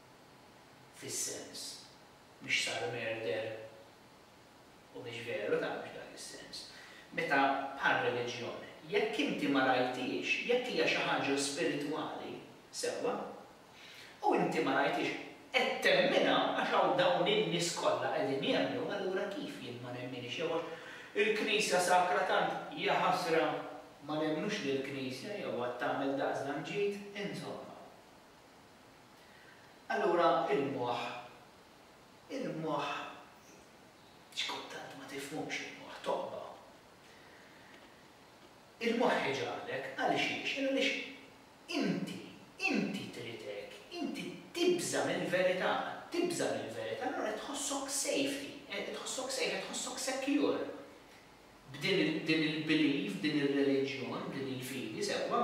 fis-sens mhux sar merder u mhux veru ta' mhux dak is-sens. Meta bħar-reliġjon, jekk inti ma rajthiex, jekk hija xi ħaġa spiritwali, sewwa, u inti ma rajthiex, qed temminha għax hawn dawn in-nies kollha qegħdin jemmnu, allura kif jien ma nemminhiex jew għax il-Knisja sakra tant, jaħasra, ma nemmnux lill-Knisja jew għad tagħmel daqsdan ġid, insomma. Allura il-moħħ, il-moħħ xi kultant ma tifhmux il-moħħ, tobba. Il-moħħ iġagħlek, għalxiex? Għaliex inti, inti trid hekk, inti tibża' mill-verità, tibża' mill-verità allura qed tħossok safety, qed tħossok safe, qed tħossok secure b'din il-belief, b'din ir-reliġjon, b'din il-fidi, sewwa?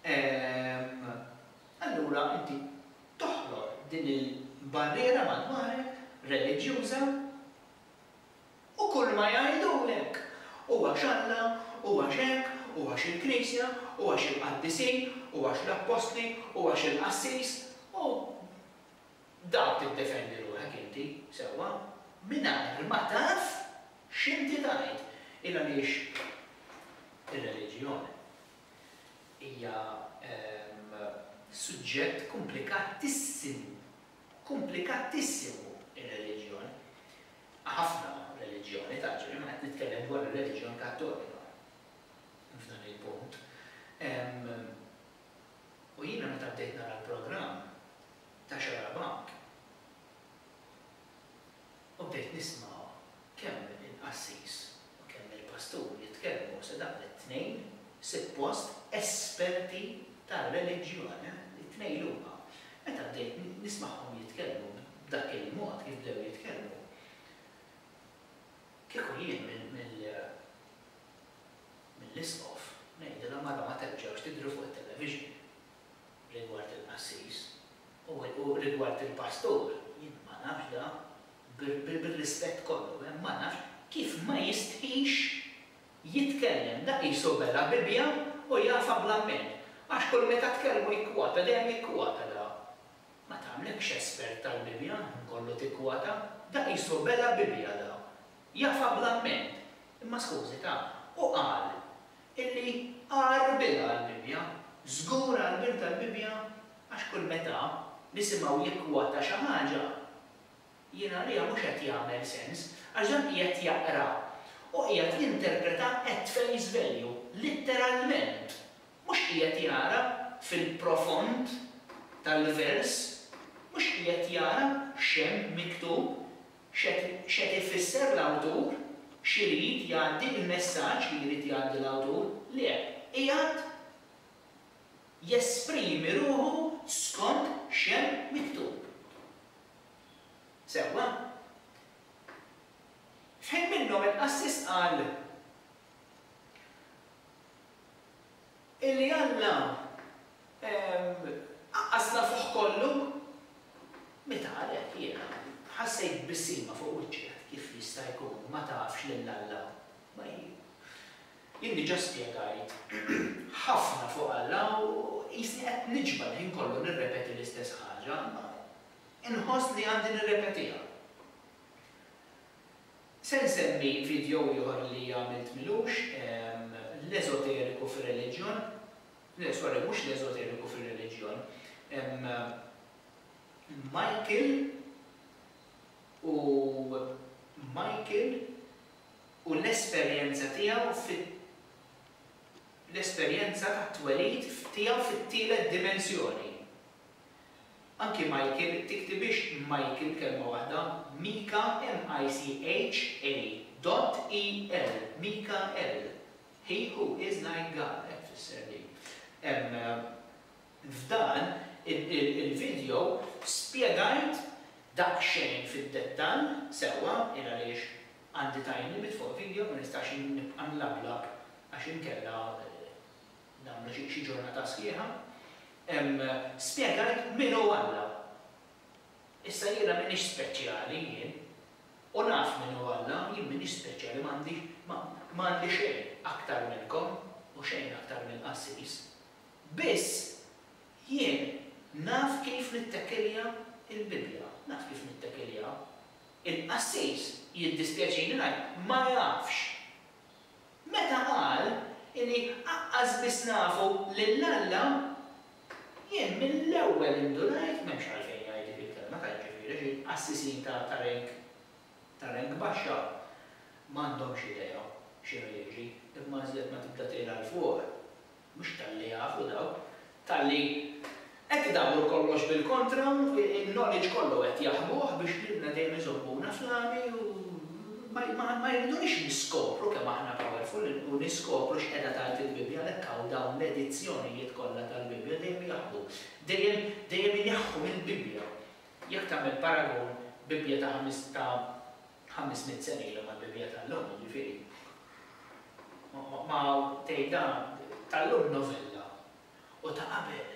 Ehm, allura inti toħloq din il-barriera madwarek, reliġjuża, u kulma jgħidulek, u għax Alla, u għax hekk, u għax il-Knisja, u għax il-qaddisin, u għax l-appostli, u għax il-qassis, u b'dak tiddefendi ruħek inti, sewwa, mingħajr ma taf X'inti tgħid? Il għaliex ir-reliġjon hija suġġett kumplikatissim, kumplikatissim-u r-reliġjon, ħafna reliġjoni, taġri, ma qed nitkellem dwar ir-reliġjon Kattolika f'dan il-punt, u jiena meta bdejt nara l-programm ta' Xarabank, u bdejt nisma' kemm il-qassis u kemm il-pastur jitkellmu se dawn it-tnejn sippost esperti tar-reliġjon, it-tnejn li huma. Meta bdejt nismagħhom jitkellmu b'dak il-mod kif bdew jitkellmu, kieku jien mill-Isqof ngħidilhom ara ma terġgħux tidhru fuq it-television. rigward il-qassis, u rigward il-pastur, jien ma nafx da, bir-rispett kollu, eh, ma nafx kif ma jistħix jitkellem, da qisu bela' Bibbja u jafha bl-amment, għax kull meta tkellmu jikkwota, dejjem jikkwota da. Ma tagħmlekx espert tal-Bibbja, ħin kollu tikkwota, da qisu bela' Bibbja da. Jafha bl-amment, imma skużita, hu qal illi għarbilha għall-Bibbja, żgur għarbiltha l-Bibbja għax kull meta nisimgħu jikkwota xi ħaġa, jien għalija mhux qed jagħmel sens għax dan qiegħed jaqra u qiegħed jinterpreta at face value, litteralment, mhux qiegħed jara fil-profond tal-vers, mhux qiegħed jara x'hemm miktub X'qed ifisser l-awtur? X'irid jgħaddi? Il-messaġġ li jrid jgħaddi l-awtur? Le. Qiegħed jesprimi ruħu skont x'hemm miktub. Sewwa? F'ħin minnhom il-qassis qal, Illi Alla qaqqas l-afuħ kollu? Meta qalek, jiena ħassejt b'bissima fuq wiċċi, għedt, Kif jista' jkun ma tafx lil Alla? Ma hi. Jien diġà spjegajt ħafna fuq Alla u qisni qed niġba' l-ħin kollu nirrepeti l-istess ħaġa, imma inħoss li għandi nirrepetiha. Se nsemmi video ieħor li għamilt milux l-eżoteriku fir-reliġjon, le sorry mhux l-eżoteriku fir-reliġjon, Michael u Michael u l-esperjenza tiegħu fi l-esperjenza tat-twelid tiegħu fit-tielet dimensjoni. Anki Michael, tiktibhiex Michael kelma waħda, Mika, M-I-C-H-A dot E-L, Mikael. He who is like God, hekk tfisser din. F'dan il-video spjegajt daqsxejn fid-dettall sewwa il għaliex għandi time limit fuq video ma nistax nibqa' nlablab għax inkella nagħmlu xi xi ġurnata sħiħa. Hemm spjegajt min hu Alla. Issa jiena m'iniex speċjali jien. U naf min hu Alla, jien m'iniex speċjali ma għandi ma ma għandi xejn aktar minnkom u xejn aktar mill-qassis. Biss jien naf kif nittekilja l-Bibbja, naf kif nittekiljaha. Il-qassis, jiddispjaċini ngħid, ma jafx. Meta qal illi aqqas biss nafu lil Alla, jien mill-ewwel indunajt, m'hemmx għalfejn jgħid dik il-kelma ta' jiġifieri għax il-qassisin ta' ta' rank ta' rank baxxa m'għandhomx idea x'inhu jiġri imma iżjed ma tibda tira 'l fuq mhux talli jafu dawk, talli qed idawru kollox bil-kontra u l-knowledge kollu qed jaħbuh biex lilna dejjem iżommuna flami u ma jridunix niskopru kemm aħna powerful u niskopru x'qegħda tgħid il-Bibbja għalhekk hawn dawn l-edizzjonijiet kollha tal-Bibbja dejjem jaħbu, dejjem dejjem ineħħu mill-Bibbja. Jekk tagħmel paragun Bibbja ta' ħamista Ħames mitt sena ilu mal-bibja tal-lum, jiġifieri. Ma tgħidha tal-lum novella u ta' qabel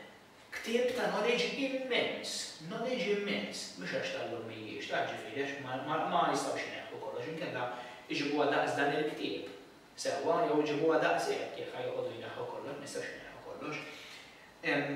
ktieb ta' knowledge immens, knowledge immens, mhux għax tal-lum mhijiex, taf ġifieri għax ma jistgħux ineħħu kollox inkella jġibuha daqs dan il-ktieb sewwa jew iġibuha daqshekk jekk ħa joqogħdu jneħħu kollox, ma jistgħux ineħħu kollox. Hemm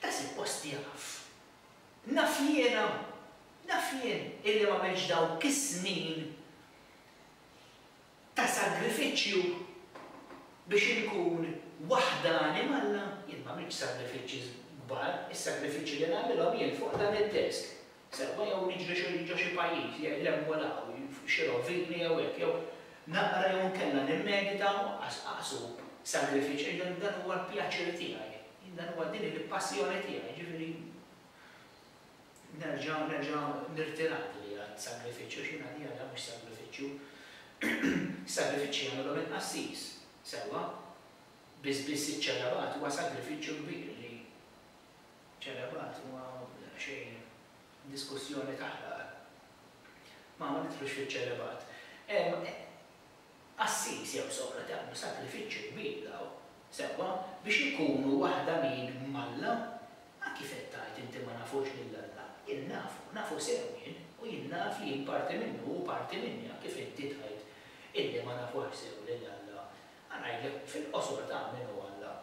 Ta' suppost jaf. Naf jiena, naf jien illi m'għamilx dawk is-snin ta' sagrifiċċju biex inkun waħdani m'Alla, jien m'għamiltx sagrifiċċji kbar, is-sagrifiċċji li nagħmilhom jien fuq dan id-desk sewwa jew niġri xi ġo xi pajjiż jgħid le mmur hawn fuq xi rovina jew hekk jew naqra jew inkella nimmedita u anqas anqas hu sagrifiċċ għax dan dan huwa l-pjaċir tiegħi. Jien dan huwa din hi l-passjoni tiegħi jiġifieri nerġa' nerġa' nirtirat li hija sagrifiċċju għax jien għalija dan mhux sagrifiċċju. Is-sagrifiċċji jagħmilhom il-qassis, sewwa? Biss biss iċ-ċelebati huwa sagrifiċċju kbir li ċelebat huwa daqsxejn diskussjoni taħraq. Ma ma nidħlux fiċ-ċelebat. Hemm qassis jew soqra li għamlu sagrifiċċju kbir daw, sewwa, biex ikunu waħdanin m'Alla. A kif qed tgħid inti ma nafux lil Alla? Jien nafu, nafu sew jien, u jien naf li jien parti minnu u hu parti minni, a kif inti tgħid illi ma nafuhx sew lil Alla? A ngħidlek fil-qosor ta' min hu Alla.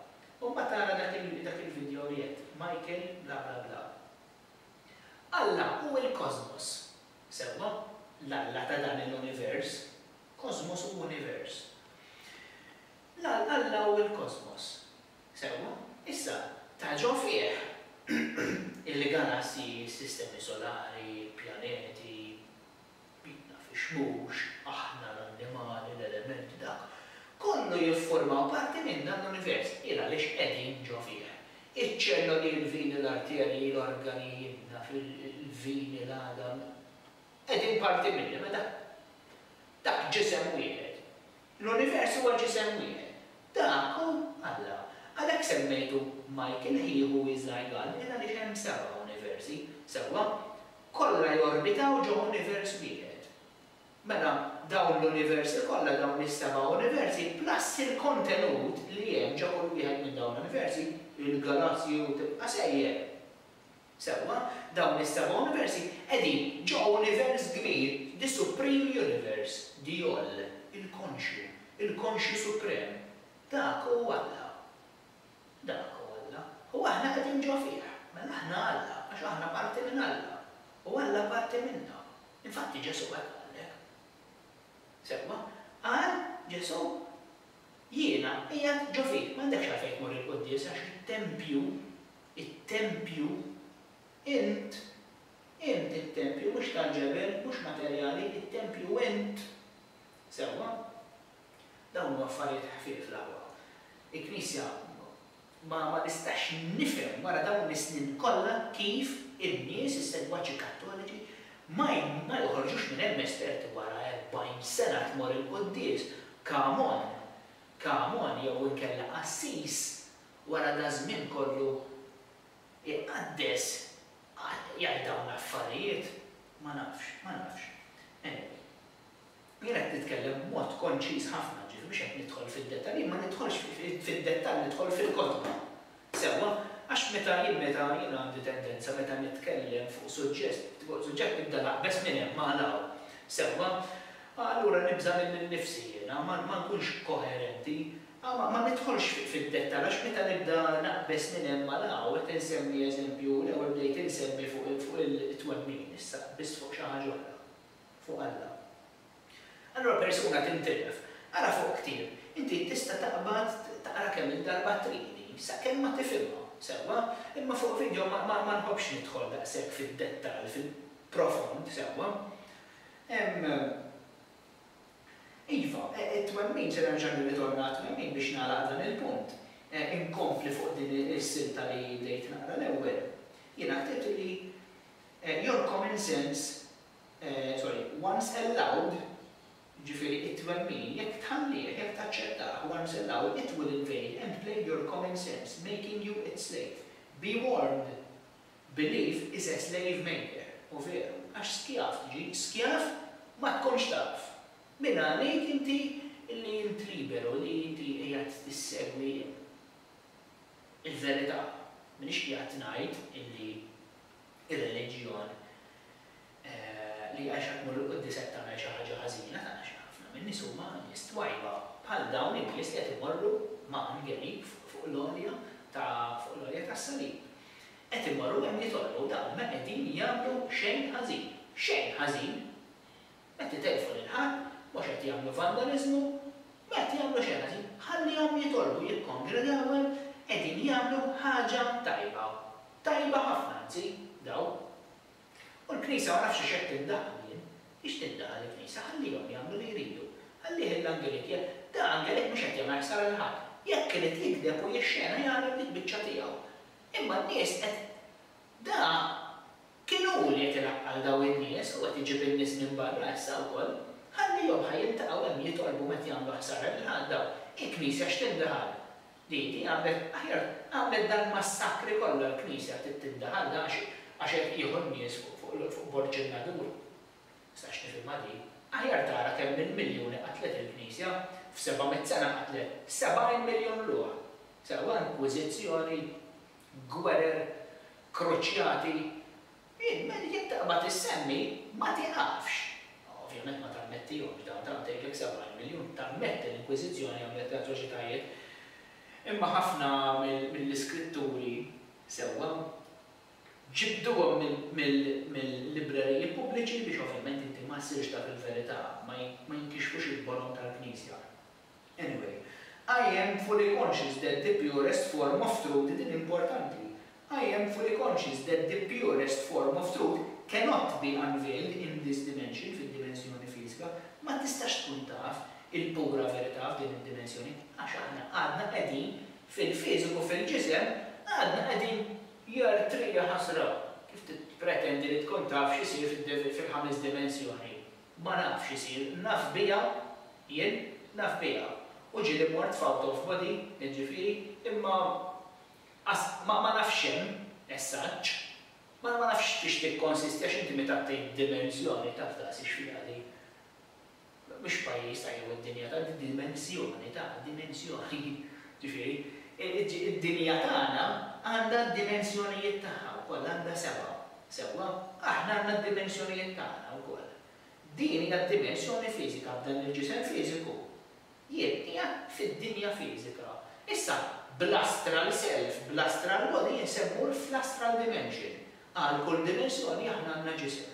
Umbat tara dak il dak il video li għedt Michael bla bla bla. Alla hu il-kosmos. Sewwa? L-Alla ta' dan il-univers. Kosmos hu univers. L-All Alla hu il-kosmos. Sewwa? Issa, ta' ġo fih il-galassji, s-sistemi solari, il-pjaneti, Bidna fix-xmux, aħna, l-annimali, l-elementi, dak kollu jiffurmaw parti minn dan l-univers, il għaliex qegħdin ġo fih. Iċ-ċelloli, il-vini, l-arterji, l-organi, jien naf, il-vini, l-għadam, qegħdin parti minni, meta? Dak ġisem wieħed. L-univers huwa ġisem wieħed. Dak hu Alla. Għalhekk semmejtu Michael He Who Is Like All, il għaliex hemm seba' universi, sewwa? Kollha jorbitaw ġo univers wieħed. Mela, dawn l-universi kollha, dawn is-seba' universi, plus il-kontenut li hemm ġo kull wieħed minn dawn l-universi, il-galassji u tibqa' sejjer. Sewwa, dawn is-seba' universi qegħdin ġo univers kbir, the supreme universe, Djoll, il-konxju, il-konxju suprem. Dak hu Alla. Dak hu Alla, u aħna qegħdin ġo fih. Mela aħna Alla, għax aħna parti minn Alla, u Alla parti minna. Infatti Ġesù qal bħalhekk. Sewwa, qal Ġesù, Jiena qiegħed ġo fik, m'għandekx għalfejn tmur il-quddiesa għax it-tempju, it-tempju, int, int it-tempju, mhux tal-ġebel, mhux materjali, it-tempju int. Sewwa? Dawn huma affarijiet ħfief l-aħwa. Il-Knisja ma ma nistax nifhem wara dawn is-snin kollha kif in-nies, is-segwaċi Kattoliċi ma ma joħorġux minn hemm esperti wara erbgħin sena tmur il-quddies, come on, come on jew inkella qassis wara daż-żmien kollu iqaddes jgħid dawn l-affarijiet? Ma nafx, ma nafx. Anyway. Jien qed nitkellem b'mod konċiż ħafna, ġifieri mhux qed nidħol fid-dettall. Jien ma nidħolx fid-dettall, nidħol fil-kotba. Sewwa? Għax meta jien meta jien għandi tendenza meta nitkellem fuq suġġest, fuq suġġett nibda naqbeż minn hemm għal hawn. Sewwa? Allura nibża' lil innifsi jiena, ma ma nkunx koherenti. Ma ma nidħolx fid-dettall għax meta nibda naqbeż minn hemm għal hawn, qed insemmi eżempju, l-ewwel bdejt insemmi fuq fuq it-twemmin, issa qbiżt fuq xi ħaġa oħra. fuq Alla. Allura persuna tintilef. Ara fuq ktieb. Inti tista' taqbad taqra kemm-il darba t-Trini, sakemm ma tifhimha sewwa. Imma fuq vidjo ma ma ma nħobbx nidħol daqshekk fid-dettall, fil-profond sewwa. Hemm Iva, it-twemmin, se nerġa' nirritorna għat-twemmin biex nagħlaq dan il-punt. Inkompli fuq din is-silta li bdejt naqra l-ewwel. Jiena ktibt li, Your common sense sorry, once allowed, jiġifieri it-twemmin, jekk tħallih, jekk taċċettah, once allowed, it will invade and plague your common sense, making you its slave. Be warned! Belief is a slave maker. U veru, għax skjav tiġi, skjav ma tkunx taf. Min għalik inti li int liberu, li inti qiegħed tissegwi il-verità? M'iniex qiegħed ngħid illi ir-reliġjon li jgħixha tmur 'il quddies qed tagħmel xi ħaġa ħażina tagħna xi ħafna min-nies huma nies twajba bħal dawn in-nies li qed imorru ma' għangerib fuq l-għolja ta' fuq l-għolja tas-salib qed imorru hemm jitolbu dawn ma qegħdin jagħmlu xejn ħażin xejn ħażin Qed itellfu lil ħadd, mhux qed jagħmlu vandaliżmu, ma qed jagħmlu xejn ħażin. Ħallihom jitolbu, jikkongregaw hemm, qegħdin jagħmlu ħaġa tajba. Tajba ħafna anzi, dawn. U l-Knisja ma nafx għax qed tindaħal jien. Għiex tindaħal il-Knisja? Ħallihom jagħmlu li jridu. Ħallih il-Angelik jagħmel. Dan Angelik mhux qed jagħmel ħsara lil ħadd. Jekk irid jigdeb u jixxena jagħmel dik biċċa tiegħu. Imma n-nies qed. Da Kien hu li qed ilaqqal daw in-nies u qed iġib in-nies minn barra issa wkoll. Ħallihom ħa jiltaqgħu hemm jitolbu meta jagħmlu ħsara lil Ħadd daw. Il-Knisja x'tindaħal? Di, di għamlet, aħjar, għamlet dal-massakri kollha l-Knisja trid tindaħal da għax, għax qed jieħu n-nies fuq, fuq, fuq Borg in-Nadur. Nistax nifhimha di. Aħjar tara kemm il-miljuni qatlet il-Knisja. F'seba' mitt sena qatlet sebgħin miljun ruħ. Sewwa inkwiżizzjoni. gwerer, kruċjati, int minn jekk taqbad issemmi ma tiqafx. Ovvjament ma tammettihomx dawn, tant tgħidlek 70 miljun, tammetti l-Inkwiżizzjoni għamlet l-atroċitajiet. Imma ħafna mill-iskritturi sewwa ġibduhom mill-libreriji pubbliċi biex ovvjament inti ma ssirx taf il-verità, ma jinkixfux il-bolon tal-Knisja. Anyway, I am fully conscious that the purest form of truth din importanti I am fully conscious that the purest form of truth cannot be unveiled in this dimension fid-dimensjoni fiżika ma tistax tkun taf il-pura verità f'din id-dimensjoni għax aħna għadna qegħdin fil-fiżiku fil-ġisem għadna qegħdin Jr. Trija ħasra! Kif tippretendi li tkun taf x'isir fil-ħames dimensjoni? Ma naf x'isir, naf biha, jien, naf biha. U ġieli mort f'out of body, jiġifieri, imma qas, ma nafx x'hemm, as such. Ma nafx fiex tikkonsisti għax inti meta tgħid dimensjoni taf daqsi x'fiha di. Mhux pajjiż ta' jew id-dinja ta', di dimensjoni ta', dimensjoni. Jiġifieri, id-dinja tagħna għandha d-dimensjonijiet tagħha wkoll, għandha sebgħa. Sewwa, aħna għandna d-dimensjonijiet tagħna wkoll. Din hija d-dimensjoni fiżika f'dan il-ġisem fiżiku. Jien qiegħed fid-dinja fiżika. Issa, bl-astral self, bl-astral body jien se mmur fl-astral dimension. Għal kull dimensjoni aħna għandna ġisem.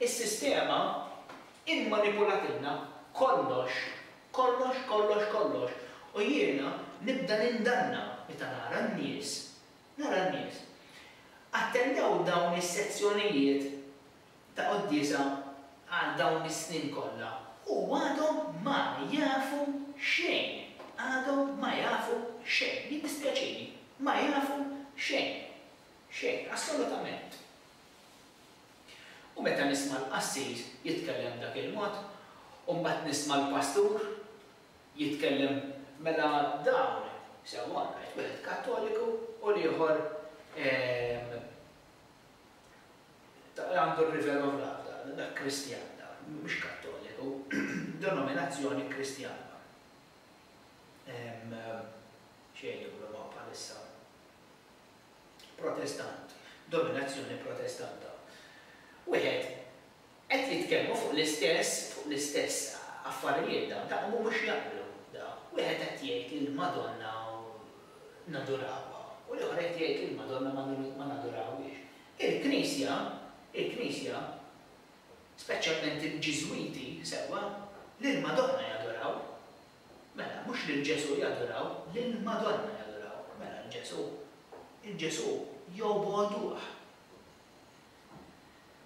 Is-sistema immanipulatilna kollox, kollox, kollox, kollox, u jiena nibda nindanna meta nara n-nies, nara n-nies. Attendew dawn is-sezzjonijiet ta' quddiesa għal dawn is-snin kollha u għadhom ma jafu xejn, għadhom ma jafu xejn, jiddispjaċini, ma jafu xejn, xejn, assolutament. U meta nisma' l-qassis jitkellem b'dak il-mod, u mbagħad nisma' l-pastur jitkellem, mela dawn, sewwa, rajt wieħed Kattoliku u l-ieħor għandu r-River of Love, dan, dak Kristjan, dan, mhux Kattoliku, denominazzjoni Kristjana. Xejn li nipprovaw bħalissa. Protestant, dominazzjoni Protestanta. Wieħed, qed jitkellmu fuq l-istess, fuq l-istess affarijiet dawn, ta' u mhux jaqblu dawn. Wieħed qed jgħid li l-Madonna nadurawha u l-ieħor qed jgħid li l-Madonna ma ma nadurawhiex. Il-Knisja, il-Knisja, speċjalment il-Ġiżwiti, sewwa, lill-Madonna jaduraw, Mela, mhux lil Ġesù jaduraw, lill-Madonna jaduraw. Mela, l-Ġesù, il-Ġesù jobogħduh.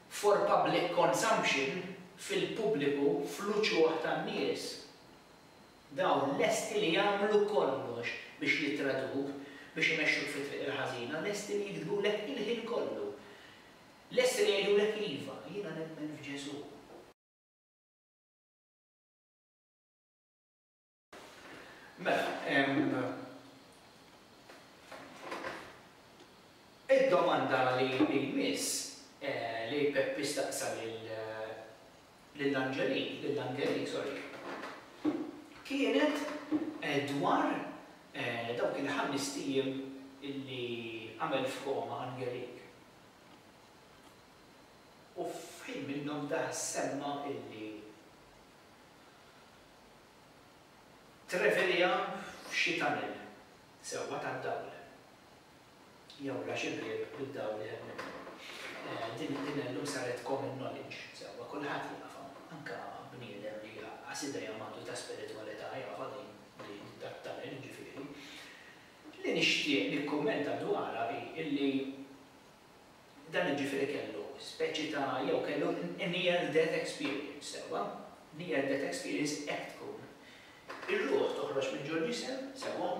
For public consumption, fil-pubbliku, fl-uċuħ tan-nies, dawn lesti li jagħmlu kollox biex jitraduk, biex imexxuk fit-triq il-ħażina, lesti li jiktbulek il-ħin kollu. Lesti li jgħidulek iva, jiena nemmen f'Ġesù. Mela, id-domanda li jmiss li Peppi staqsa lill-Anġelin, lill-Angelin, sorry, kienet dwar dawk il-ħamest ijiem li għamel f'koma Angelin. U f'ħin minnhom dah semma illi Treviliha f'xi tunnel sewwa tad-dawl, jew la xi bieb bid-dawl iħebb minnu. Din din illum saret common knowledge sewwa, kulħadd jaf hawn, anke bniedem li jgħaqqas idejhom għandu ta' spiritwalità jafha din din tat-tunnel jiġifieri. Li nixtieq nikkummenta dwarha hi illi Dan jiġifieri kellu speċi ta' jew kellu near death experience, sewwa? Near death experience hekk tkun. Ir-ruħ toħroġ minn ġol ġisem, sewwa?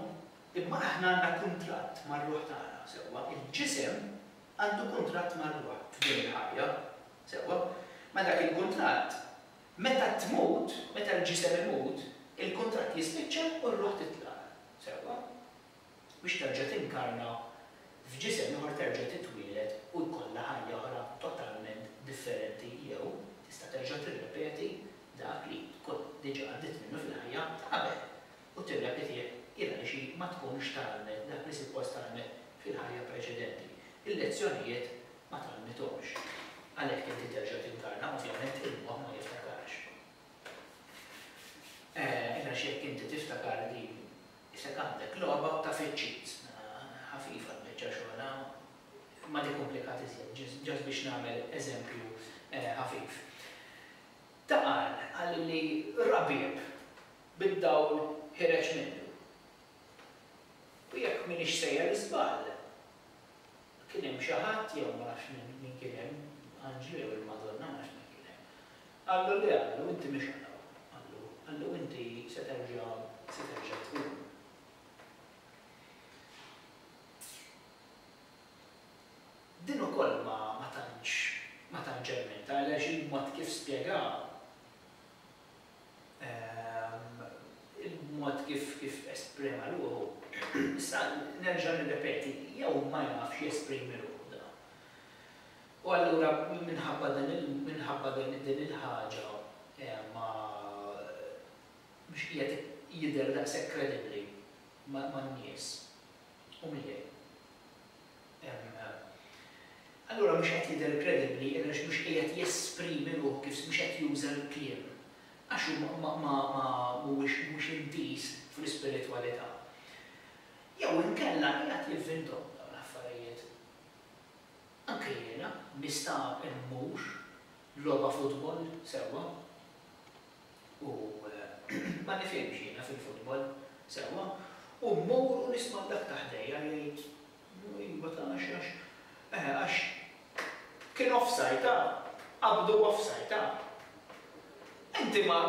Imma aħna għandna kuntratt mar-ruħ tagħna, sewwa? Il-ġisem għandu kuntratt mar-ruħ f'din il-ħajja, sewwa? Ma dak il-kuntratt, meta tmut, meta l-ġisem imut, il-kuntratt jispiċċa u r-ruħ titlaq, sewwa? biex terġa' tinkarna f'ġisem ieħor, terġa' titwieled u jkollha ħajja oħra totalment differenti jew tista' terġa' tirrepeti dak li tkun diġà għaddiet minnu fil-ħajja ta' qabel u tirrepetih il għaliex hi ma tkunx tgħallmet dak li suppost tgħallmet fil-ħajja preċedenti. Il-lezzjonijiet ma tgħallmithomx. Għalhekk inti terġa' tinkarna, ovvjament il-moħħ ma jiftakarx. Għax jekk inti tiftakar din Isek għandek logħba ta' fiċċit. Ħafifa l-biċċa xogħol ha? Ma nikkumplikat iżjed, just biex nagħmel eżempju ħafif. Ta' qal, qal li ra bieb bid-dawl ħireġ minnu. U jekk m'iniex sejjer żball, kien hemm xi ħadd, jew ma nafx min kien hemm, anġlu jew il-Madonna, ma nafx min kien hemm, Qallu le għallu inti mhix għal hawn, qallu, qallu inti se terġa' se terġa' tqum. Din ukoll ma ma tantx ma tantx għenitha għaliex il-mod kif spjegaha ehm il-mod kif kif esprema ruħu issa nerġa' nirrepeti jew ma jafx jesprimi ruħu dan. U allura minħabba din il, minħabba din il-ħaġa ma, mhux qiegħed jidher daqshekk kredibbli man-nies u miegħi. Allura mhux qed jidher kredibbli għaliex mhux qiegħed jesprimi ruħu kif, mhux qed juża l-kliem għax hu ma, ma, ma, mhuwiex, mhux intiż fl-ispiritwalità. Jew inkella qiegħed jivvintom dawn l-affarijiet. Anke jiena nista' mmur logħba futbol sewwa? U ma nifhimx jiena fil-futbol sewwa u mmur u nisma' lil dak ta' ħdejja li jgħid, Iva ta' għax għax, eħe għax kien offside ta', qabdu offside ta'. Inti ma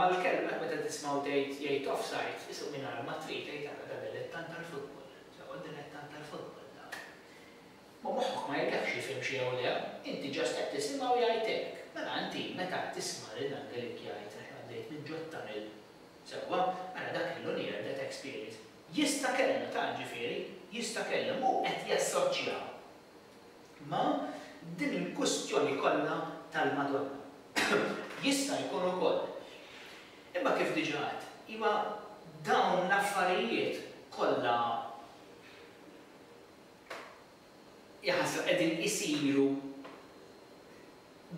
l-kelmek meta tismgħu tgħid jgħid offside, issu mingħajr ma trid tgħid ara da dilettant tal-futbol, sewwa dilettant tal-futbol da. Ma moħħok ma jgafx jifhimx jew le, inti just qed tisimgħu jgħid hekk. Mela inti meta tisma' lil Dan Grech jgħid għax għaddejt minn ġod ta' mill. Sewwa, mela dak kellu near death experience. Jista' kellu, ta' ġifieri, jista' kellu, imma hu qed jassoċja ma' din il-kustjoni kollha tal-Madonna. Jista' jkun ukoll. Imma kif diġà għedt, iva dawn l-affarijiet kollha Jaħasra qegħdin isiru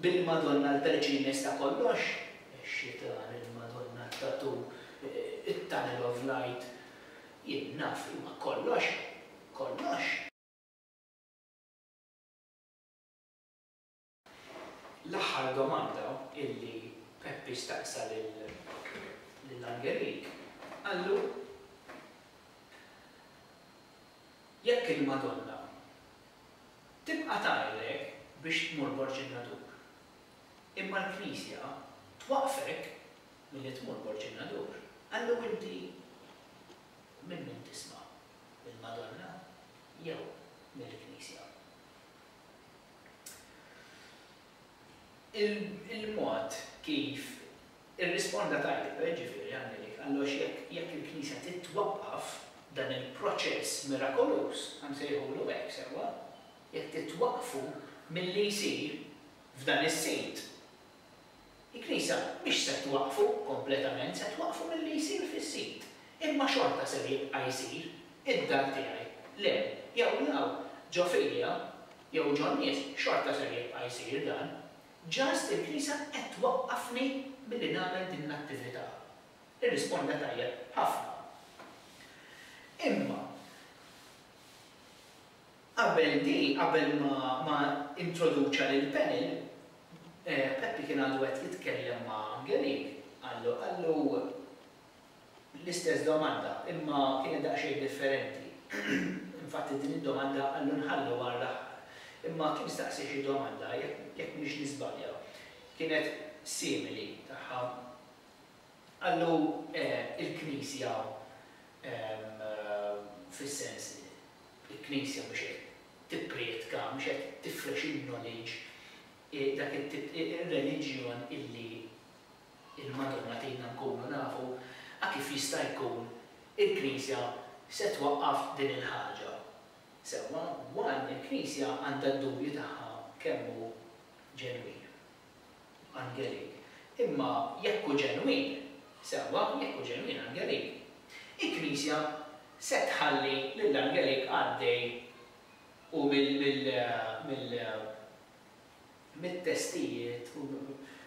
bil-Madonna l-Vergines ta' kollox, ix-xitan, il-Madonna t-tatoo, it-tunnel of light, jien naf, imma kollox, kollox. L-aħħar domanda illi Peppi staqsa lil Angelik, qallu, Jekk il-Madonna tibqa' tgħidlek biex tmur Borg in-Nadur, imma l-Knisja twaqqfek milli tmur Borg in-Nadur, qallu inti minn min tisma', mill-Madonna jew mill-Knisja? Il-mod kif irrisponda tajjeb, jiġifieri, Anneliek, għallox jekk il-Knisja titwaqqaf, dan il-proċess mirakoluż, ħa nsejħulu hekk, sewwa? jekk titwaqqfu milli jsir f'dan is-sit, Il-Knisja mhix se twaqqfu kompletament, se twaqqfu milli jsir fis-sit, imma xorta ser jibqa' jsir, id-dar tiegħi, le, jew law, ġo f'idejha, jew ġo n-nies, xorta ser jibqa' jsir dan. Just il-Knisja qed twaqqafni milli nagħmel din l-attività. Irrisponda tajjeb ħafna. Imma. Qabel di, qabel ma ma introduċa lill-panel, Peppi kien għadu qed jitkellem ma' Angelique, qallu, qallu l-istess domanda, imma kienet daqsxejn differenti. Infatti din id-domanda qallu nħalluha għall-aħħar. Imma kien staqsi xi domanda, jekk jekk m'iniex niżbalja, kienet simili tagħha. Qallu, Eh, il-Knisja, ehm, fis-sens li l-Knisja mhux qed tipprietka, mhux qed tifrex in-knowledge, dak it-tip, ir-reliġjon illi l-Madonna tgħinna nkunu nafu, a kif jista' jkun il-Knisja se twaqqaf din il-ħaġa? Sewwa, one, il-Knisja għandha d-dubju tagħha kemm hu ġenwin. Angelik, Imma jekk hu ġenwin, sewwa, jekk hu ġenwin, Angelik, il-Knisja se tħalli lil Angelik għaddej u mit-testijiet u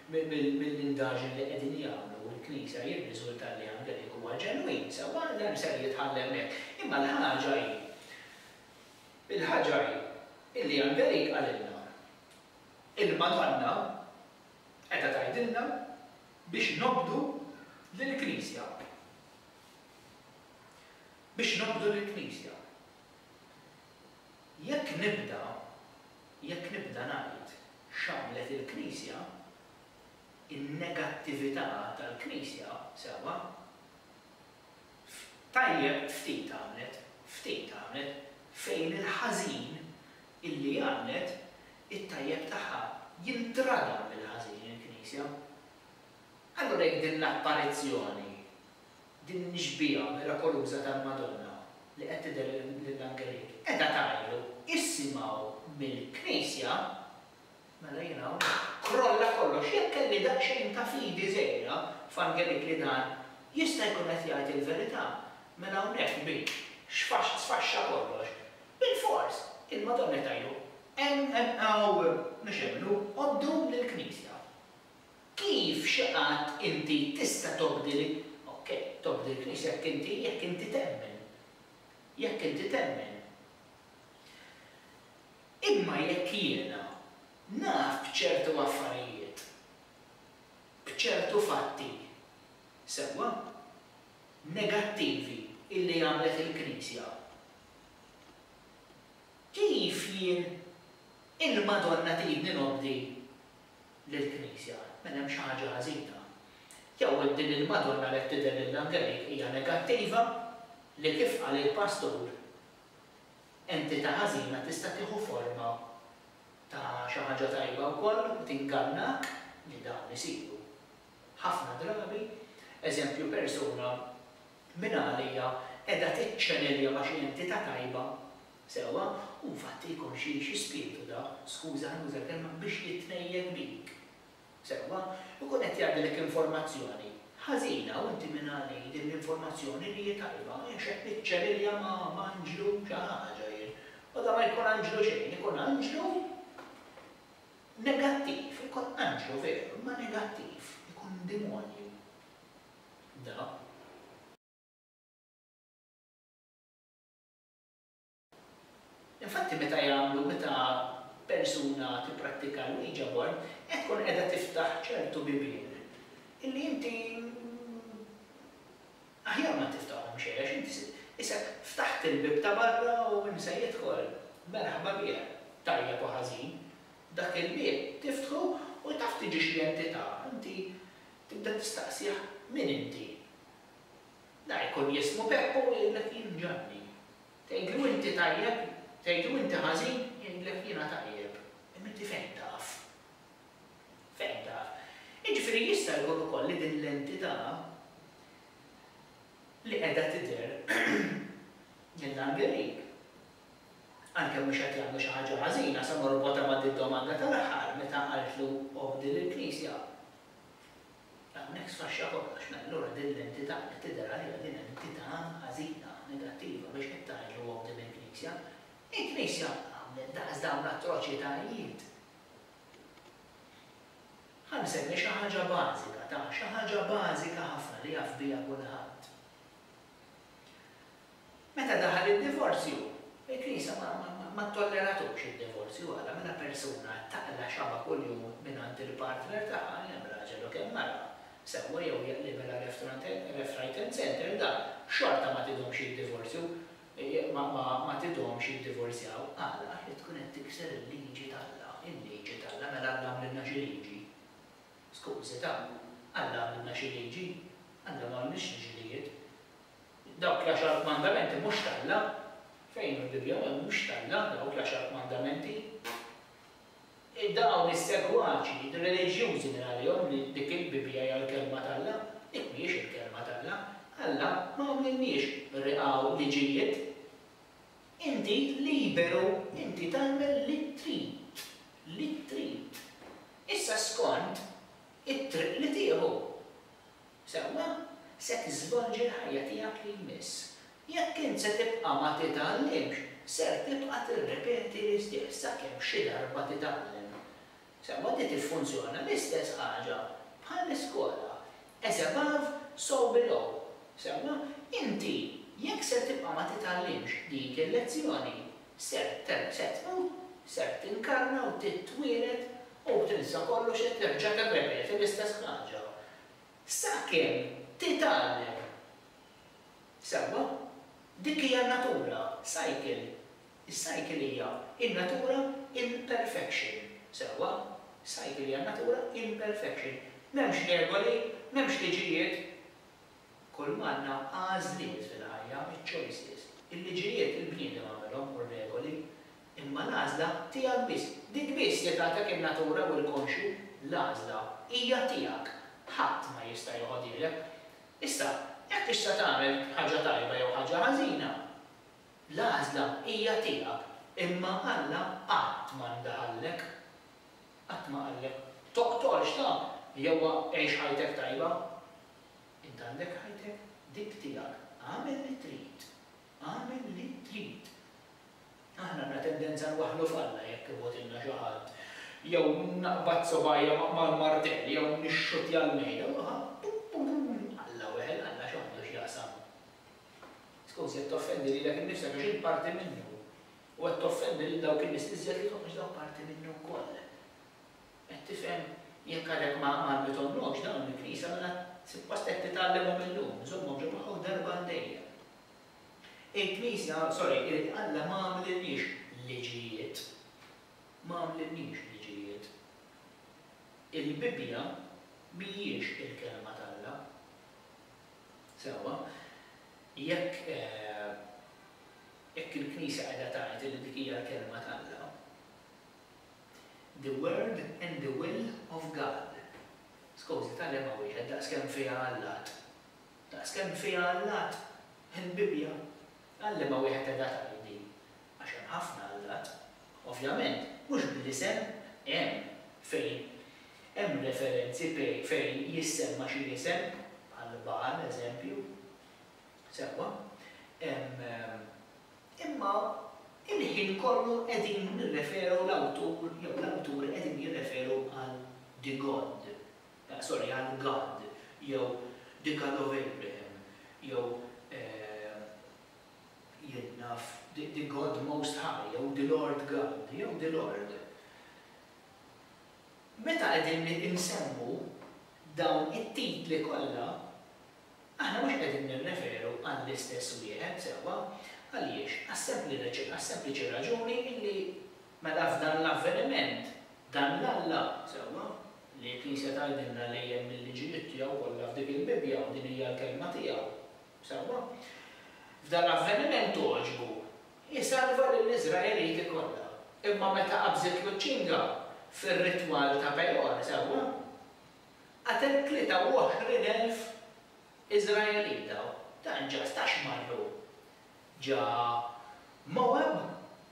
mill-indaġni li qegħdin jagħmlu l-Knisja jirriżulta li Angelik huwa ġenwin, sewwa, dan ser jitħalla hemmhekk. Imma l-ħaġa hi, il-ħaġa hi illi Angelik qalilna. Il-Madonna qiegħda tgħidilna biex nobdu lill-Knisja. Biex nobdu lill-Knisja. Jekk nibda, jekk nibda ngħid x'għamlet il-Knisja, in-negattività tal-Knisja, sewwa, f'tajjeb ftit għamlet, ftit għamlet, fejn il-ħażin illi għamlet it-tajjeb tagħha jintrada bil-ħażin il-Knisja. Allura jekk din l-apparizzjoni, din ix-xbieha mirakoluża tal-Madonna li qed tidher lill-angelid qiegħda tgħidlu issimgħu mill-Knisja, Mela jien hawn. Krolla kollox, jekk kelli daqsxejn ta' fidi żgħira f'Angelique li dan jista' jkun qed jgħid il-verità, mela hawnhekk biex, xfaxx sfaxxa kollox, bilfors, il-Madonna qed tgħidlu, Hemm, hemm, hawn, mhux hemm, hu, obdu lill-Knisja. Kif xi qatt inti tista' tobdi li, ok, tobdi l-Knisja jekk inti, jekk inti temmen. Jekk inti temmen. Imma jekk jiena naf b'ċertu affarijiet, b'ċertu fatti, sewwa, negattivi illi għamlet il-Knisja, kif jien il-Madonna tridni nobdi lill-Knisja? Mela hemm xi ħaġa ħażina. Jew hekk din il-Madonna li qed tidher lil Angelej hija negattiva li kif qal il-pastur Entità ħażina tista' tieħu forma ta' xi ħaġa tajba wkoll u tingannak li dawn isiru ħafna drabi. Eżempju, persuna mingħalija qiegħda tiċċenelja ma' xi entità tajba, sewwa, u infatti jkun xi xi spirtu dak, skuża nuża l-kelma, biex jitnejjel bik. sewwa, ikun qed jgħaddilek informazzjoni ħażina u inti min għal hi din l-informazzjoni li hi tajba, jien x'qed niċċerilja ma' anġlu xi ħaġa jien. Bada ma jkun anġlu xejn, ikun anġlu negattiv, ikun anġlu veru imma negattiv, ikun demonju da. Infatti meta jagħmlu, meta persuna tipprattika l-Ouija board, qed tkun qiegħda tiftaħ ċertu bibien illi inti aħjar ma tiftahom xejn għax inti isek ftaħt il-bieb ta' barra u min se jidħol, merħba bih, tajjeb u ħażin. Dak il-bieb tiftħu u taf tiġi xi entità, inti tibda tistaqsih min inti? Da jkun jismu Peppu u jgħidlek jien Ġanni. Tgħidlu inti tajjeb, tgħidlu inti ħażin, jgħidlek jiena tajjeb. Imma inti fejn taf? Fejn taf? Jiġifieri jista' jkun ukoll li din l-entità li qiegħda tidher lill-Angelik, għalkemm mhux qed jagħmlu xi ħaġa ħażina, se norbotha ma' did-domanda tal-aħħar meta qaltlu obdi lill-Knisja. Hawnhekk sfaxxa kollox, mela allura din l-entità qed tidher għaliha din entità ħażina, negattiva biex qed tgħid li huwa quddiem il-Knisja. Il-Knisja għamlet daqs dawn l-atroċitajiet? Ħa nsemmi xi ħaġa bażika, ta' xi ħaġa bażika ħafna li jaf biha kulħadd. Meta daħal id-divorzju, il-Knisja ma, ma, ma, ma ttolleratux id-divorzju. Għala? Meta persuna taqla' xabha kuljum mingħand il-partner tagħha, kemm raġel u kemm mara, sewwa jew jaqlibilha reftraiten center, dan xorta ma tidhomx jiddivorzju, ma, ma, ma tidhomx jiddivorzjaw. Għala? Għax qed tkun qed tikser il-liġi t'Alla. Il-liġi t'Alla? Mela Alla għamlilna xi liġi? Skużi, ta'. Alla għamilna xi liġi? Alla ma għamilx liġilijiet. Dawk l-Għaxar Kmandamenti mhux t'Alla. Fejn fil-Bibbja ma humiex t'Alla dawk l-Għaxar Kmandamenti. Dawn is-segwaċi reliġjużi li għalihom dik il-Bibbja hija l-Kelma t'Alla, dik mhijiex il-Kelma t'Alla. Alla ma għamlilniex riqgħa u liġijiet. Inti liberu inti tagħmel li trid, li trid. Issa skont it-triq li tieħu. Sewwa, se tiżvolġi l-ħajja tiegħek li jmiss. Jekk int se tibqa' ma titgħallimx, ser tibqa' tirrepeti l-istess sakemm xi darba titgħallem. Sewwa di tiffunzjona l-istess ħaġa bħall-iskola, as above, so below. Sewwa, inti jekk ser tibqa' ma titgħallimx dik il-lezzjoni, ser terġ se tmut, ser tinkarna u titwieled u b'tilsa kollox se terġa' tirrepeti l-istess ħaġa. Sakemm titgħallem. Sewwa, dik hija n-natura, cycle. Is-cycle hija n-natura in perfection. Sewwa, cycle hija n-natura in perfection. M'hemmx regoli, m'hemmx liġijiet. Kull m'għandna għażliet fil-ħajja, iċ-choices. Il-liġijiet il-bniedem għamilhom u r-regoli. Imma l-għażla tiegħek biss. Dik biss li tagħtek in-natura u l-konxju. L-għażla hija tiegħek. Ħadd ma jista' joħodhielek. Issa, jekk tista' tagħmel ħaġa tajba jew ħaġa ħażina, l-għażla hija tiegħek. Imma Alla qatt ma ndaħallek. Qatt ma qallek, Toqtolx, ta, jew għix ħajtek tajba. Int għandek ħajtek dik tiegħek. Agħmel li trid. Agħmel li trid. Aħna għandna tendenza nwaħħlu f'Alla jekk imugħtilna xi ħadd, jew naqbad subgħajja mal-martell jew nixxuttja l-mejda. Alla weħel, Alla x'għandu x'jaqsam? Tkun se toffendi lilek innifsek għax int parti minnu, u qed toffendi lil dawk in-nies l-iżjed li tħoss dawk parti minnu wkoll. Qed tifhem? Jekk għadek ma għallmithomlhomx dawn il-Knisja, mela suppost qed titgħallimhom illum, żommhom ġo moħħok darba għal dejjem. Il-Knisja, sorry, irid Alla ma għamlilniex liġijiet. Ma għamlilniex liġijiet. Il-Bibbja mhijiex il-Kelma t'Alla. Sewwa, jekk jekk il-Knisja qiegħda tgħid li dik hija l-Kelma t'Alla, the word and the will of God, skos, titgħallem ma' wieħed daqskemm fiha Alla għad. Daqskemm fiha allat, il-Bibbja, għallimha wieħed qiegħda tgħid din, għax hemm ħafna allat. Ovvjament, mhux bl-isem, hemm fejn hemm referenzi pej fejn jissemma xi isem, bħal Bagħal, eżempju. Sewwa. Hemm. Imma il-ħin kollu qegħdin nirreferu l-awtur jew l-awturi qegħdin jirreferu għal the God. Sorry, għal God, jew the God of Abraham, jew jien naf, the God Most High, jew the Lord God, jew the Lord. Meta qegħdin insemmu dawn it-titli kollha, aħna mhux qegħdin nirreferu għall-istess wieħed sewwa. Għaliex? Għas-sempliċi raġuni li Mela f'dan l-avveniment, dan l-Alla, sewwa, li l-Knisja tgħidilna li hemm il-liġijiet tiegħu kollha f'dik il-Bibbja u din hija l-Kelma tiegħu, sewwa, f'dan l-avveniment għoġbu, hi salva lill-Iżraeliti kollha. Imma meta qabżitlu ċ-ċinga fir-ritwal ta' Pejor, sewwa, qatlet tlieta u għoxrin elf Iżraelita. Dan ġast għax marru Ġa Mowab,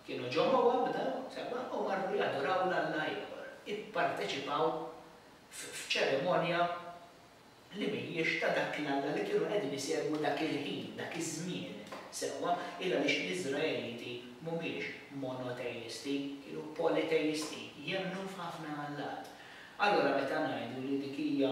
kienu ġo Mowab dawn, sewwa, u marru jadoraw 'l alla ieħor, ipparteċipaw f'ċerimonja li mhijiex ta' dak l-alla li kienu qegħdin isegwu dak il-ħin, dak iż-żmien, sewwa, il għaliex l-Iżraeliti mhumiex monoteisti, kienu politeisti, jemmnu f'ħafna allat. Allura meta ngħidu li dik hija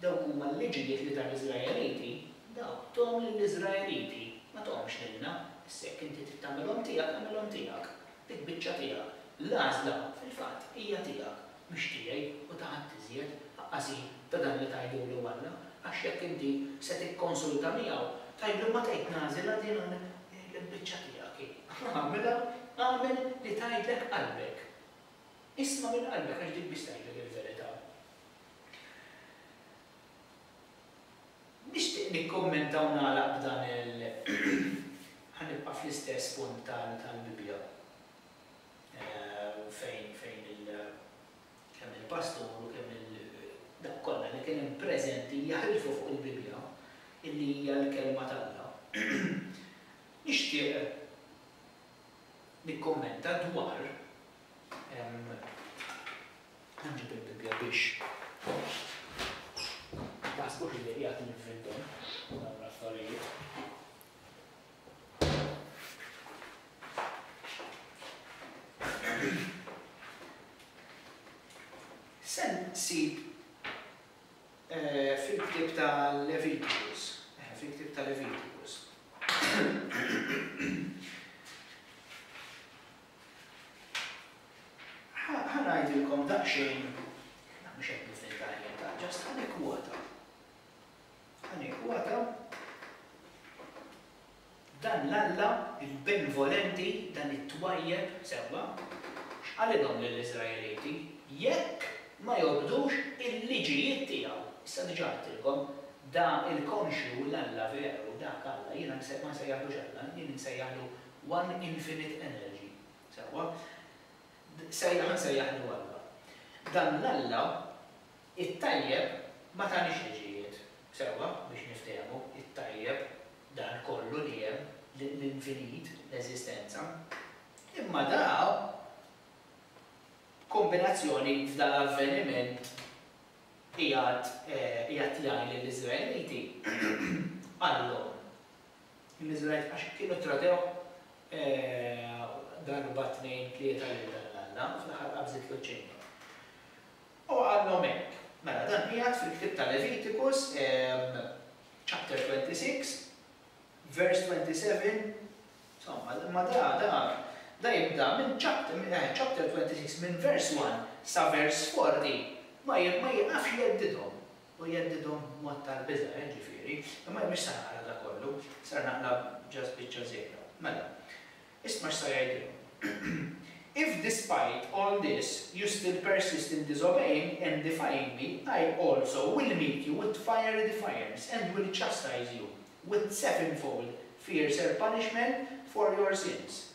Dawk huma l-liġijiet li ta l-Iżraeliti, dawk thom lill-Iżraeliti, ma thomhomx lilna, issa jekk inti trid tagħmilhom tiegħek, agħmilhom tiegħek. Dik biċċa tiegħek. L-għażla, fil-fatt, hija tiegħek, mhix tiegħi u ta' ħadd iżjed, aqqashin ta' dan li tgħidulu Alla, għax jekk inti se tikkonsulta miegħu, tgħidlu ma tgħid nagħżel għax din il-biċċa tiegħek hi. Agħmilha, agħmel li tgħidlek qalbek. Isma' minn qalbek għax dik biss tgħidlek il-verità. Nixtieq nikkummenta u nagħlaq b'dan il ħa nibqa' fl-istess punt tal-Bibbja fejn fejn il kemm il-pastur u kemm il dawk kollha li kien hemm preżenti jaħlfu fuq il-Bibbja illi hija l-Kelma t'Alla. Nixtieq nikkummenta dwar Ħanġib il-Bibbja biex ma taħsbux li qiegħed ninfindhom dawn l-affarijiet. Se nsib fil-ktieb ta' Levitikus, fil-ktieb ta' Levitikus. Ħa ngħidilkom daqsxejn, mhux qed nifni f'varjetà, just ħa nikkwota, ħa nikkwota dan l-Alla, il-benvolenti, dan it-twajjeb, sewwa, x'qalilhom lill-Iżraeliti, jekk ma jobdux il-liġijiet tiegħu. Issa diġà għedtilkom, da il-konxju l-Alla veru, dak Alla, jiena ma nsejjaħlux Alla, jien insejjaħlu One infinite energy. Sewwa. Sejjaħ insejjaħlu Alla. Dan l-Alla, it-tajjeb, ma taniex liġijiet. Sewwa, biex niftehmu, it-tajjeb, dan kollu li hemm, l-infinit, l-eżistenza. Imma da, b'kombinazzjoni f'dan l-avveniment, qiegħed qiegħed jgħid lill-Iżraeliti, Qallhom, L-Iżraeliti għax kienu tradew darba tnejn tlieta lil dan l-alla, u fl-aħħar qabżitlu ċ-ċinga. U qalhom hekk. Mela dan qiegħed fil-ktieb ta' Levitikus, chapter 26, verse 27, insomma, imma da, da, da jibda minn chapter, minn eħe, chapter 26, minn verse one sa verse 40, ma, ma jiqafx jeddidhom. u jheddidhom b'mod tal-biża', jiġifieri, Imma jien mhix se naqra dak kollu, ser naqra just biċċa żgħira. Mela, isma' x'sa jgħidilhom, If despite all this you still persist in disobeying and defying me, I also will meet you with fiery defiance and will chastise you with sevenfold fiercer punishment for your sins.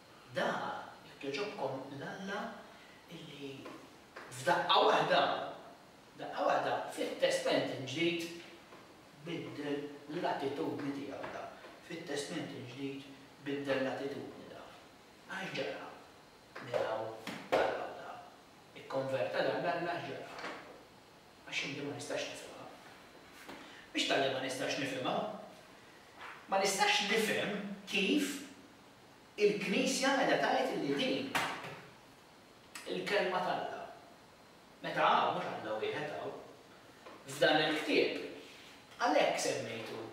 Dagħa, jekk jogħġobkom, l-Alla li f'daqqa waħda, daqqa waħda, fit-Testment il-Ġdid biddel l-attitudni tiegħu da. Fit-Testment il-Ġdid biddel l-attitudni da. Għax ġara? Miraw taraw da. Ikkonverta dan l-Alla għax ġara? Għax inti ma nistax nifhimha. Mhix talli ma nistax nifhimha. Ma nistax nifhem kif Il-Knisja qiegħda tgħid illi din il-Kelma t'Alla, meta hawn, mhux Alla wieħed hawn, f'dan il-ktieb, għalhekk semmejtu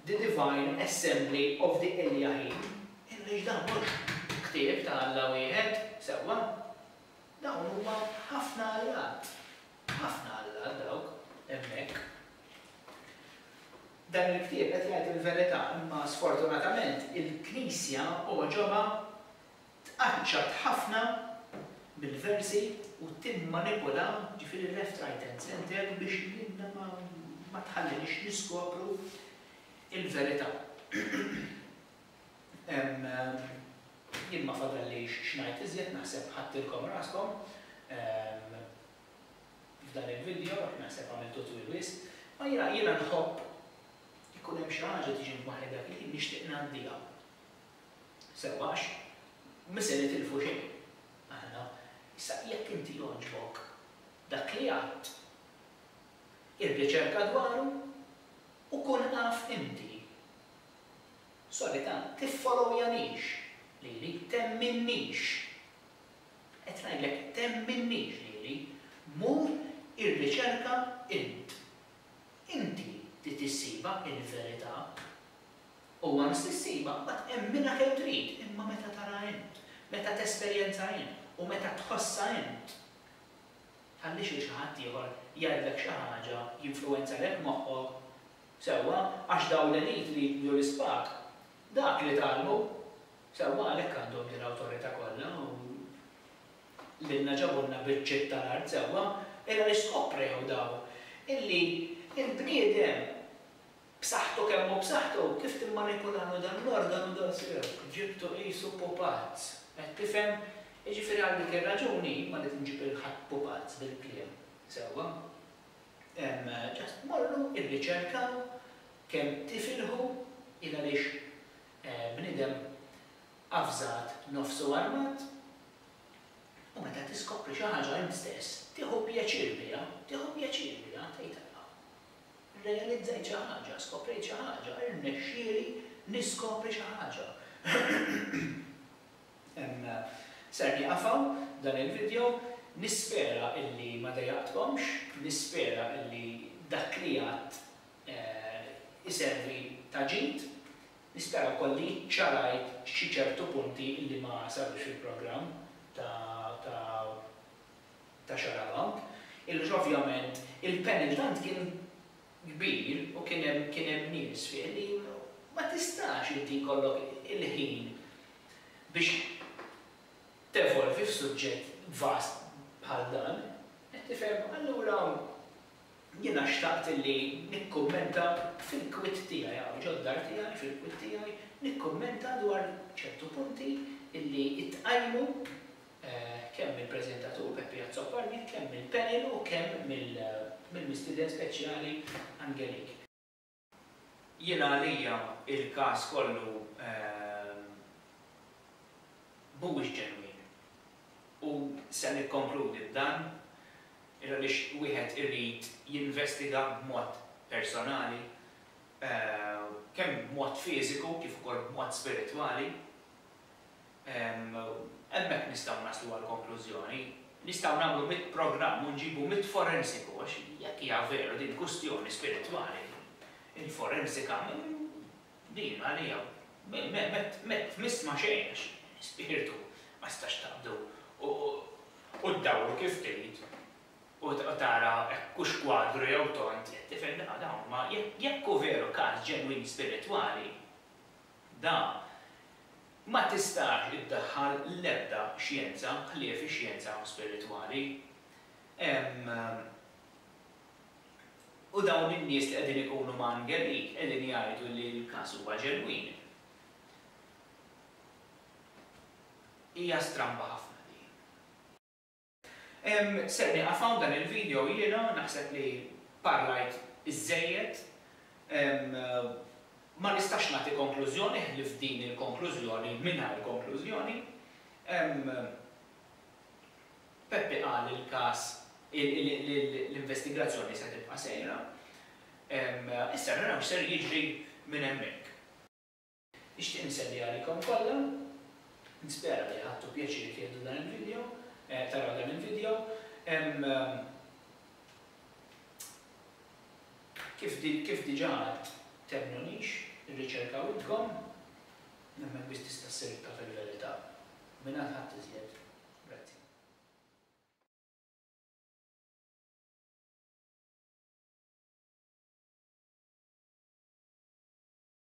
The Divine Assembly of the Eliahim, għaliex dan mhux ktieb ta' Alla wieħed, sewwa? Dawn huma ħafna allat, ħafna allat dawk hemmhekk. Dan il-ktieb qed jgħid il-verità imma sfortunatament il-Knisja għoġobha tqaċċat ħafna mill-versi u timmanipula, ġifieri left right and centre, biex lilna ma tħalliniex niskopru l-verità. Jien ma fadallix x'ngħid iżjed naħseb ħadtilkom raskom. f'dan il-video, għax naħseb għamiltu twil wisq, imma jiena, jiena nħobb ikun hemm xi ħaġa tiġi f'moħħi dak il-ħin nixtieq ngħaddiha sewwa għax mhu se nitilfu xejn aħna. Issa jekk inti jogħġbok dak li għadt, irriċerka dwaru u kun af inti. Solita tiffolowjanix lili, temminix Qed ngħidlek, temminniex lili, mur irriċerka int. Inti trid issibha il-verità. U once issibha, mbagħad emminha kemm trid, imma meta taraha int, meta tesperjenza int u meta tħossha int, tħallix lil xi ħadd ieħor jgħidlek xi ħaġa, jinfluwenzalek moħħok, sewwa, għax dawn l-elite li jiġbdu l-ispad, dak li tgħallmu. Sewwa għalhekk għandhom din l-awtorità kollha u lilna ġabulna biċċiet tal-art sewwa, illa li skoprew dawn illi l-bniedem b'saħħtu kemm hu b'saħħtu kif timmanipulalu dan l-organu daqshekk, ġibtu qisu pupazz. Qed tifhem? Jiġifieri għal dik ir-raġuni jien ma rrid inġib lil ħadd pupazz bil-kliem, sewwa? Hemm just morru irriċerkaw kemm tifilħu il għaliex Bniedem avżat nofsu armat u meta tiskopri xi ħaġa int stess tieħu pjaċir biha, tieħu pjaċir biha, tgħid Alla, rrealizzajt xi ħaġa, skoprejt xi ħaġa, irnexxieli niskopri xi ħaġa. Ser nieqaf hawn dan il-vidjow, nispera illi ma dejjaqtkomx, nispera illi dak li għadt iservi ta' ġid. Nispera wkoll li ċċarajt xi ċertu punti li ma sarux fil-programm ta' Xaraw hawn. Il-lux ovvjament, il-panel tant kien kbir u kien hemm kien hemm nies fih li ma tistax inti jkollok il-ħin biex tevolvi f'suġġett vast bħal dan. Qed tifhem? Allura. Jiena xtaqt illi nikkummenta fil-kwitt tiegħi hawn ġod-dar tiegħi, fil-kwitt tiegħi, nikkummenta dwar ċertu punti illi tqajmu kemm mill-preżentatur Peppi Azzopardi, kemm mill-panel u kemm mill-mistieden speċjali Angelik. Jiena għalija il-każ kollu mhuwiex ġenwin. U se nikkonkludi b'dan, għaliex wieħed irid jinvestiga b'mod personali, kemm b'mod fiżiku kif ukoll b'mod spiritwali, Hemmhekk nistgħu naslu għal konklużjoni. Nistgħu nagħmlu mitt programm u nġibu mitt forensiku għax jekk hija veru din kwistjoni spiritwali, il-forensika din għalija ma tmiss ma' xejn għax spirtu ma tistax taqbdu u ddawru kif trid u tara hekk hux kwadru jew tond, tifhem, dawn huma jekk hu veru każ ġenwin spiritwali, Dan ma tistax iddaħħal l-ebda xjenza ħlief ix-xjenza spiritwali. Hemm u dawn in-nies li qegħdin ikunu mgħangerin qegħdin jgħidu li l-każ huwa ġenwin. Hija stramba ħafna din. Ser nieqaf hawn dan il-video jiena naħseb li parlajt iżżejjed. Ma nistax nagħti konklużjoni ħlief din il-konklużjoni mingħajr konklużjoni. Peppi qal li l-każ l-investigazzjoni se tibqa' sejra. Issa naraw x'ser jiġri minn hemmhekk. Nixtieq nselli għalikom kollha. Nispera li ħadtu pjaċir tieħdu dan il-video, taraw dan il-video. Hemm kif diġà għedt temmnunix, irriċerkaw intkom. Hemmhekk biss tista' ssir ittaf il-verità. Mingħand ħadd iżjed. Grazzi.